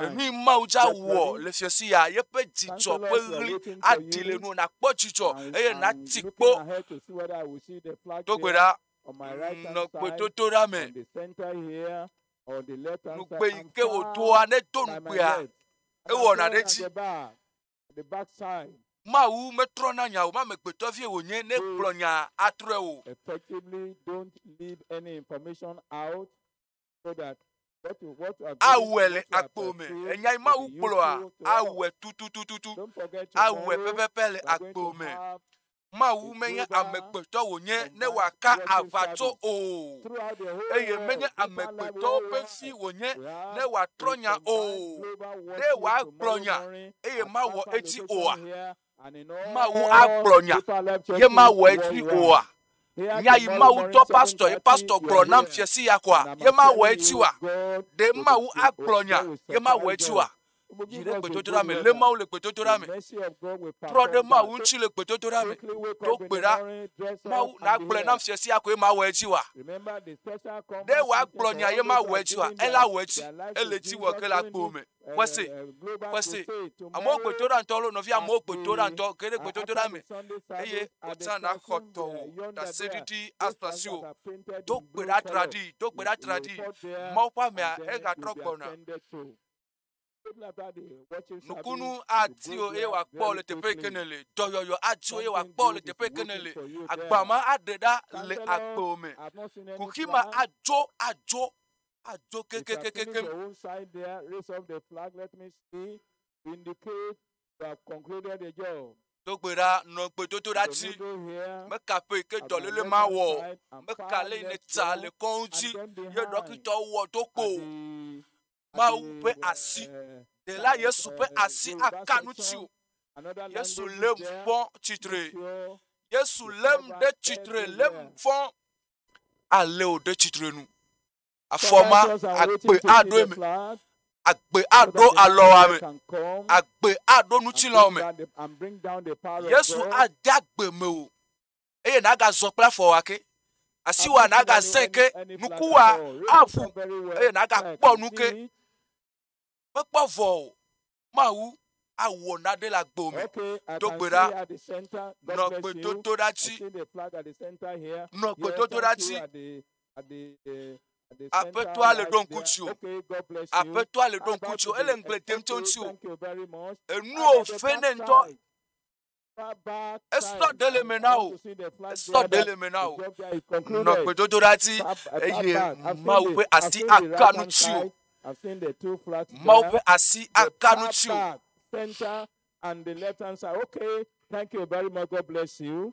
enu yi Mawu dza wɔ le fia sia, yeƒe dzidzɔ ƒe ɣli aɖi le nuwò nàkpɔ dzidzɔ eye nàti kpo. Do gbe ɖa, nɔ gbedodoɖa me. nugbe yi ke wòdoa nedo nugbea, ewɔna ɖe edzi. Mawu metrɔna nya o, mamegbetɔ vie wònye ne gblɔ nya atrɔe o. Awɔe le agbo me, enya yi Mawu gblɔa, awɔe tututututu, awɔe pɛpɛpɛ le agbo me. Mawu menye amegbetɔ wònye ne wòaka aʋatso o, eye menye amegbetɔwo ƒe fi wònye ne wòatrɔ nya o. Ɖe wòagblɔ nya eye mawɔ edzi oa? Mawu agblɔ nya ye mawɔ edzi oa? Nya yi Mawu dɔ pastor ye pastor gblɔ nam fiasi ya koa ye mawɔ edzi oa? Ɖe Mawu agblɔ nya ye mawɔ edzi oa? Dzi ɖe gbedodoɖa me, lé Mawu le gbedodoɖa me, trɔ ɖe Mawu ŋuti le gbedodoɖa me, ɖo gbe ɖa, Mawu nagblɔe nam sia sia koe mawɔ edzi wa. Ɖe wòagblɔ nya ye mawɔ edzi wa, ele awɔ edzi, ele edzi wɔ ke le agbo me. Xɔse, xɔse. Amewo gbedodoɖa ŋutɔ lo, nɔvi amewo gbedodoɖa ŋutɔ, ge ɖe gbedodoɖa me, eye wòtia na xɔtɔ wò ɖaseɖiɖi asɔ asi wò. Do gbe ɖa traɖii, do gbe ɖa traɖii. Mawu ƒe amea, egatrɔ gbɔna. Nukunu ati wo eye wòakpɔ le teƒe yike ne le. Dɔyɔyɔ ati wo eye wòakpɔ le teƒe yike ne le. Agba ma aɖe ɖa le agbe me. Kuxi ma adzo adzo adzo kekekekekem. Dogbe ɖa nɔ gbedodo ɖa ti. Meka ƒe yike dɔlele ma wɔ. Meka le yi ne ta le kɔn ŋuti. Ye ɖɔkitɔ wɔ do kpo. Mawu ƒe asi. Ɖela Yesu ƒe asi aka nu tsi o. Yesu lé nu fɔ tsitre. Yesu lé nu ɖe tsitre, lé nu fɔ alé o ɖe tsitre nu. Afɔ ma agbe aɖo eme. Agbe aɖo alɔ ame. Agbe aɖo ŋutilɔ ame. Yesu ade agbe me o. eye nàgazɔ kple afɔwòa ke. Asiwòa nàgazẽ ke, nukuwòa aʋu, eye nàgakpɔ nu ke. Mekpɔ vɔ o, Mawu awɔ nane le agbo me. Do gbe ɖa, nɔ gbedodoɖati, nɔ gbedodoɖati. Aƒetɔa le ɖo ŋku tsi o. Aƒetɔa le ɖo ŋku tsi o. Ele ŋugble dem tso ŋuti o. Enuwo fe ne ŋutɔ. esɔ ɖe le me na wò esɔ ɖe le me na wò nɔ gbedodoɖa dzi eye mawu ƒe asi aka nu tsi o mawu ƒe asi aka nu tsi o. and the left hand side. Okay, thank you very much. God bless you.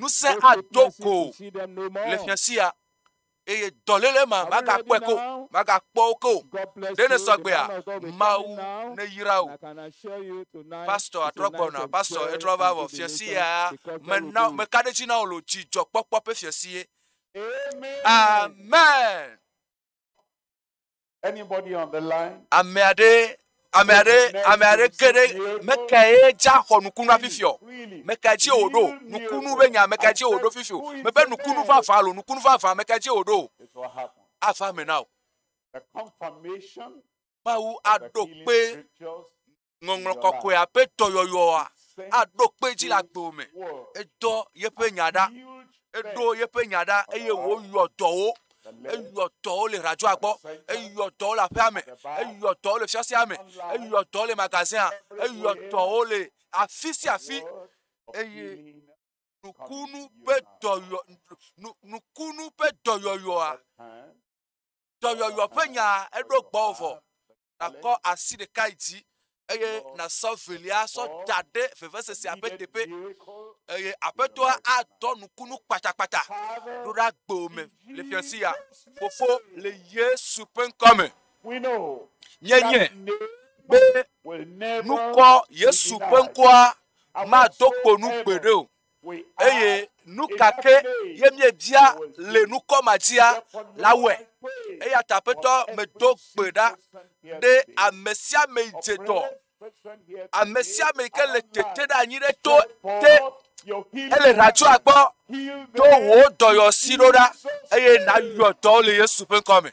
Ŋusẽ ado go le fiasia eye dɔléle ma magakpɔe ko, magakpɔ wo ke o. Ɖe ne sɔ gbea? Mawu neyra wò. Pastor trɔ gbɔna, pastor etrɔ va vɔ. Fiasia mena meka ɖe dzi na wò lo dzidzɔkpɔkpɔ ƒe fiasie. Amen. Ame aɖe, ame aɖe, ame aɖe ke ɖe mekae dza xɔ nukunu afifi o. Meka dzi wòɖo nukunu be nya meka dzi wòɖo fifi o. Mebe nukunu vavã alo nukunu vavã meka dzi wòɖo. Ava me na wò. Mawu aɖo kpe Ŋɔŋlɔ Kɔkɔea ƒe dɔyɔyɔa aɖo kpe edzi le agbewo me. Edɔ yeƒe nya ɖa, eɖo yeƒe nya ɖa, eye wòyɔ dɔwo. Eyɔ dɔwo le radioa gbɔ, eyɔ dɔwo le aƒea me, eyɔ dɔwo le fiasea me, eyɔ dɔwo le magazɛa, eyɔ dɔwo le afi sia afi, eye nukunu ƒe dɔyɔ, nu, nukunu ƒe dɔyɔyɔa dɔyɔyɔ ƒe nya eɖo gbɔwò vɔ. Nàkɔ asi ɖeka yi dzi eye nàsɔ velia sɔ da ɖe vevesesia ƒe teƒe eye aƒetɔa adɔ nukunu kpatakpata ɖo ɖe agbewo me le fiasi ya. Fofo le Yesu ƒe ŋkɔ me. Míenye be nukɔ Yesu ƒe ŋkɔa mado kpo nu gbeɖe o. Eye nu ka ke ye miebia le nukɔ ma dzia? La wɔe. Eya ta aƒetɔ medo gbe ɖa ɖe ame sia ame yi dze dɔ, ame sia ame yi ke le tete ɖe anyi ɖe to te hele ɖatsoa gbɔ do wò dɔyɔsi ɖo ɖa eye nàyɔ dɔ le Yesu ƒe ŋkɔ me.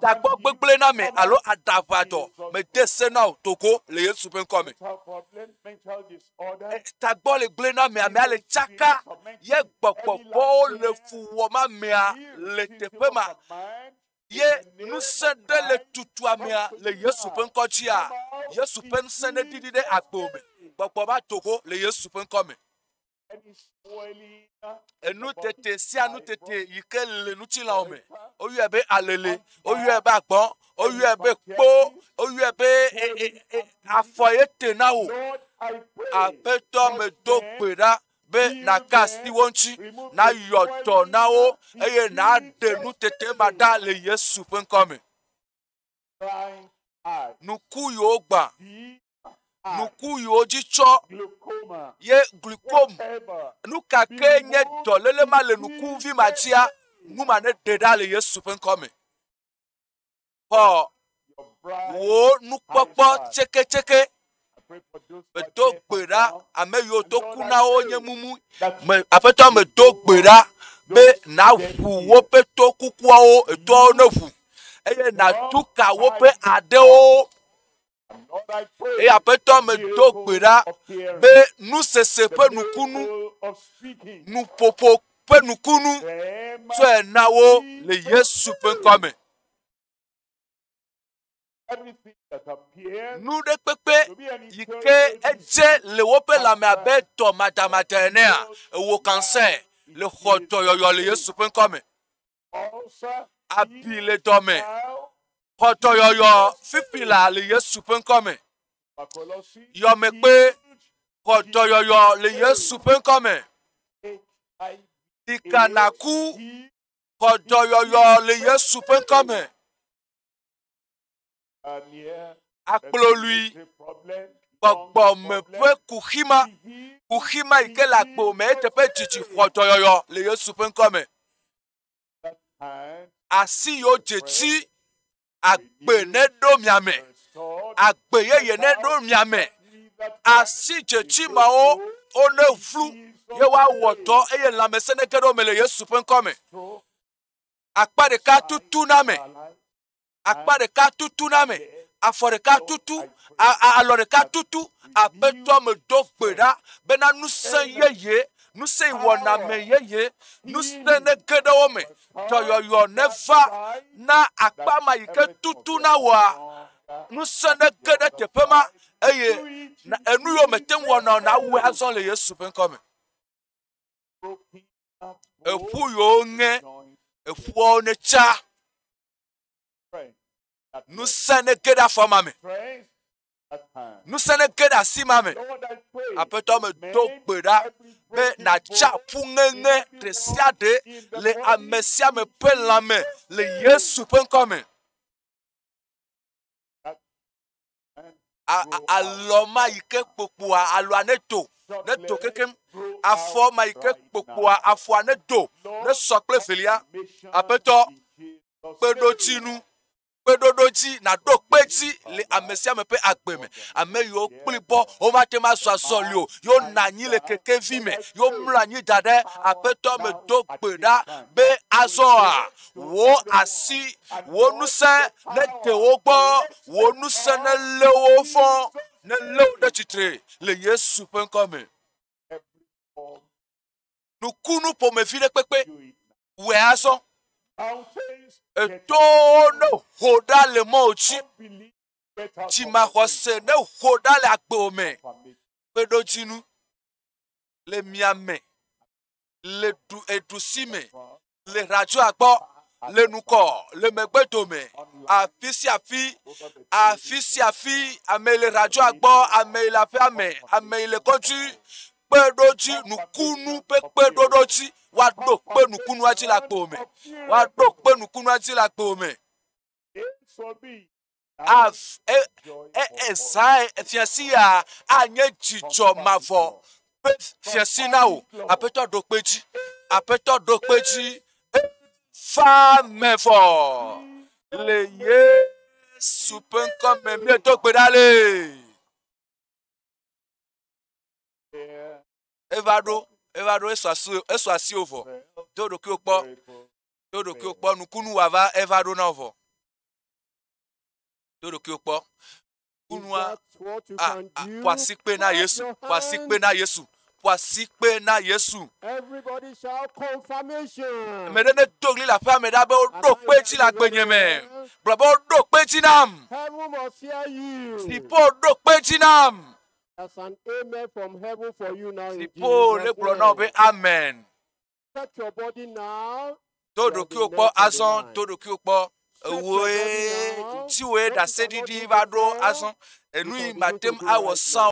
Takpɔ gbegblẽ na me alo aɖaʋadɔ mede se na o togo le Yesu ƒe ŋkɔ me. Tagbɔ le gblẽ na me, amea le tsaka ye gbɔgbɔ vɔ̃wo le fu wɔm amea le teƒe ma ye ŋusẽ ɖe le tutu amea le Yesu ƒe ŋkɔ dzia. Yesu ƒe ŋusẽ neɖiɖi ɖe agbo me. Gbɔgbɔ va togo le Yesu ƒe ŋkɔ me. Enutete sia nutete yi ke le ŋutilãwo me, woyɔe be alele, woyɔe be agbɔn, woyɔe be kpo, woyɔe be e, e, e, afɔ ye te na wò. Aƒetɔ medo gbe ɖa be nàka asi wo ŋuti, nayɔ dɔ na wo, eye nàɖe nutete ma ɖa le Yesu ƒe ŋkɔ me. Nuku yiwo gbã nuku yiwo dzi tsɔ ye glukom nu ka ke nye dɔléle ma le nukuvi ma dzia nu ma ne ɖe ɖa le yesu ƒe ŋkɔ me xɔ wò nukpɔkpɔ tseketseke medo gbe ɖa ame yiwo do ku na wo nye mumu me aƒetɔ medo gbe ɖa be nàʋu woƒe to kukuawo etoawo ne ʋu eye nàtu ka woƒe aɖewo eye aƒetɔ medo gbe ɖa be nusese ƒe nukunu nuƒoƒo ƒe nukunu tsɔe na wo le yesu ƒe ŋkɔ me nu ɖe kpekpe yi ke edze le woƒe lãme abe tɔ madamada enea ewɔ kansɛ le xɔ dɔyɔyɔ le yesu ƒe ŋkɔ me abi le dɔme. Xɔdɔyɔyɔ fifi la le Yesu ƒe ŋkɔ me. Yɔme kpe xɔdɔyɔyɔ le Yesu ƒe ŋkɔ me. Ɖika naku xɔdɔyɔyɔ le Yesu ƒe ŋkɔ me. akplɔlui, gbɔgbɔ me ƒe kuxi ma, kuxi ma yi ke le agbo me eteƒe dzidzi xɔ dɔyɔyɔ le Yesu ƒe ŋkɔ me. Asi yewo dzetsi agbe neɖo mia me, agbe yeye neɖo mia me. Asi dzetsi mawo wone ʋlu ye woawɔ dɔ eye lãmesẽ nege ɖe wo me le Yesu ƒe ŋkɔ me. Akpa ɖeka tutu na me. akpa ɖeka tutu na me, afɔ ɖeka tutu, alɔ ɖeka tutu. Aƒetɔ medo gbe ɖa bena ŋusẽ yeye, ŋusẽ wɔna me yeye, ŋusẽ ne ge ɖe wo me, dɔyɔyɔ neva na akpa ma yi ke tutu na wɔa, ŋusẽ ne ge ɖe teƒe ma eye enu yiwo mete ŋu wɔna o nawɔe azɔ le Yesu ƒe ŋkɔ me. Eƒu yiwo ŋe, eƒuawo netsa. Ŋusẽ nege ɖe afɔ ma me. Ŋusẽ nege ɖe asi ma me. Aƒetɔ me do gbe ɖa be nàtsa ƒu ŋeŋe ɖe sia ɖe le ame sia ame ƒe lãme le Yesu ƒe ŋkɔ me. alɔ ma yi ke kpokpoa alɔa ne do ne do kekem afɔ ma yi ke kpokpoa afɔa ne do ne sɔ kple velia aƒetɔ kpeɖodzinu kpeɖoɖo dzi naɖo kpe dzi le ame sia ame ƒe agbe me ame yiwo kpli bɔ womate ŋu azɔ azɔli o yewo na anyi le kekevi me yewo mlɔ anyi da ɖe aƒetɔ me do gbe ɖa be azɔa Wò asi, wò ŋusẽ nede wo gbɔ, wò ŋusẽ nelé wo fɔ, nelé wo ɖe tsitre le Yesu ƒe ŋkɔ me. Nukunu ƒomevi ɖe kpekpe wòe azɔ. Eto ne ho ɖa le mɔ dzi. Dzimaxɔse ne ho ɖa le agbo me. Kpeɖodzinu le mia me. le ɖu eɖusi me le hladzoa gbɔ le nukɔ le megbe dome afi sia afi afi sia afi ame le hladzoa gbɔ ame le aƒea me ame le kɔdzi kpeɖodzi nukunu ƒe kpeɖoɖodzi woaɖo kpe nukunua dzi le agbo me woaɖo kpe nukunua dzi le agbo me. Esai fiasia anye dzidzɔ mavɔ ƒe fiasi na wò. Aƒetɔ ɖo kpe dzi. Aƒetɔ ɖo kpe dzi. Fa me vɔ le Yesu ƒe ŋkɔ me miedo gbe ɖa le. Eva ɖo eva ɖo esu asi esu asi wò vɔ. Do ɖokuiwò kpɔ. Do ɖokuiwò kpɔ nukunu wòava eva ɖo na wò vɔ. Do ɖokuiwo kpɔ. Kunua a ƒo asikpe na Yesu. Ƒo asikpe na Yesu. Ƒo asikpe na Yesu. Ame ɖe ne do ɣli le aƒea me ɖa be woɖo kpe dzi le agbenye me. Gblɔ be woɖo kpe dzi nam. Dziƒo ɖo kpe dzi nam. That's an amen from heaven for you now. Dziƒo le gblɔ na wò be amen. Do ɖokuiwò kpɔ azɔ, do ɖokuiwò kpɔ. Ewòe, ŋutiwòe ɖaseɖiɖi va ɖo azɔ. Enu yi màtem awɔ sã o.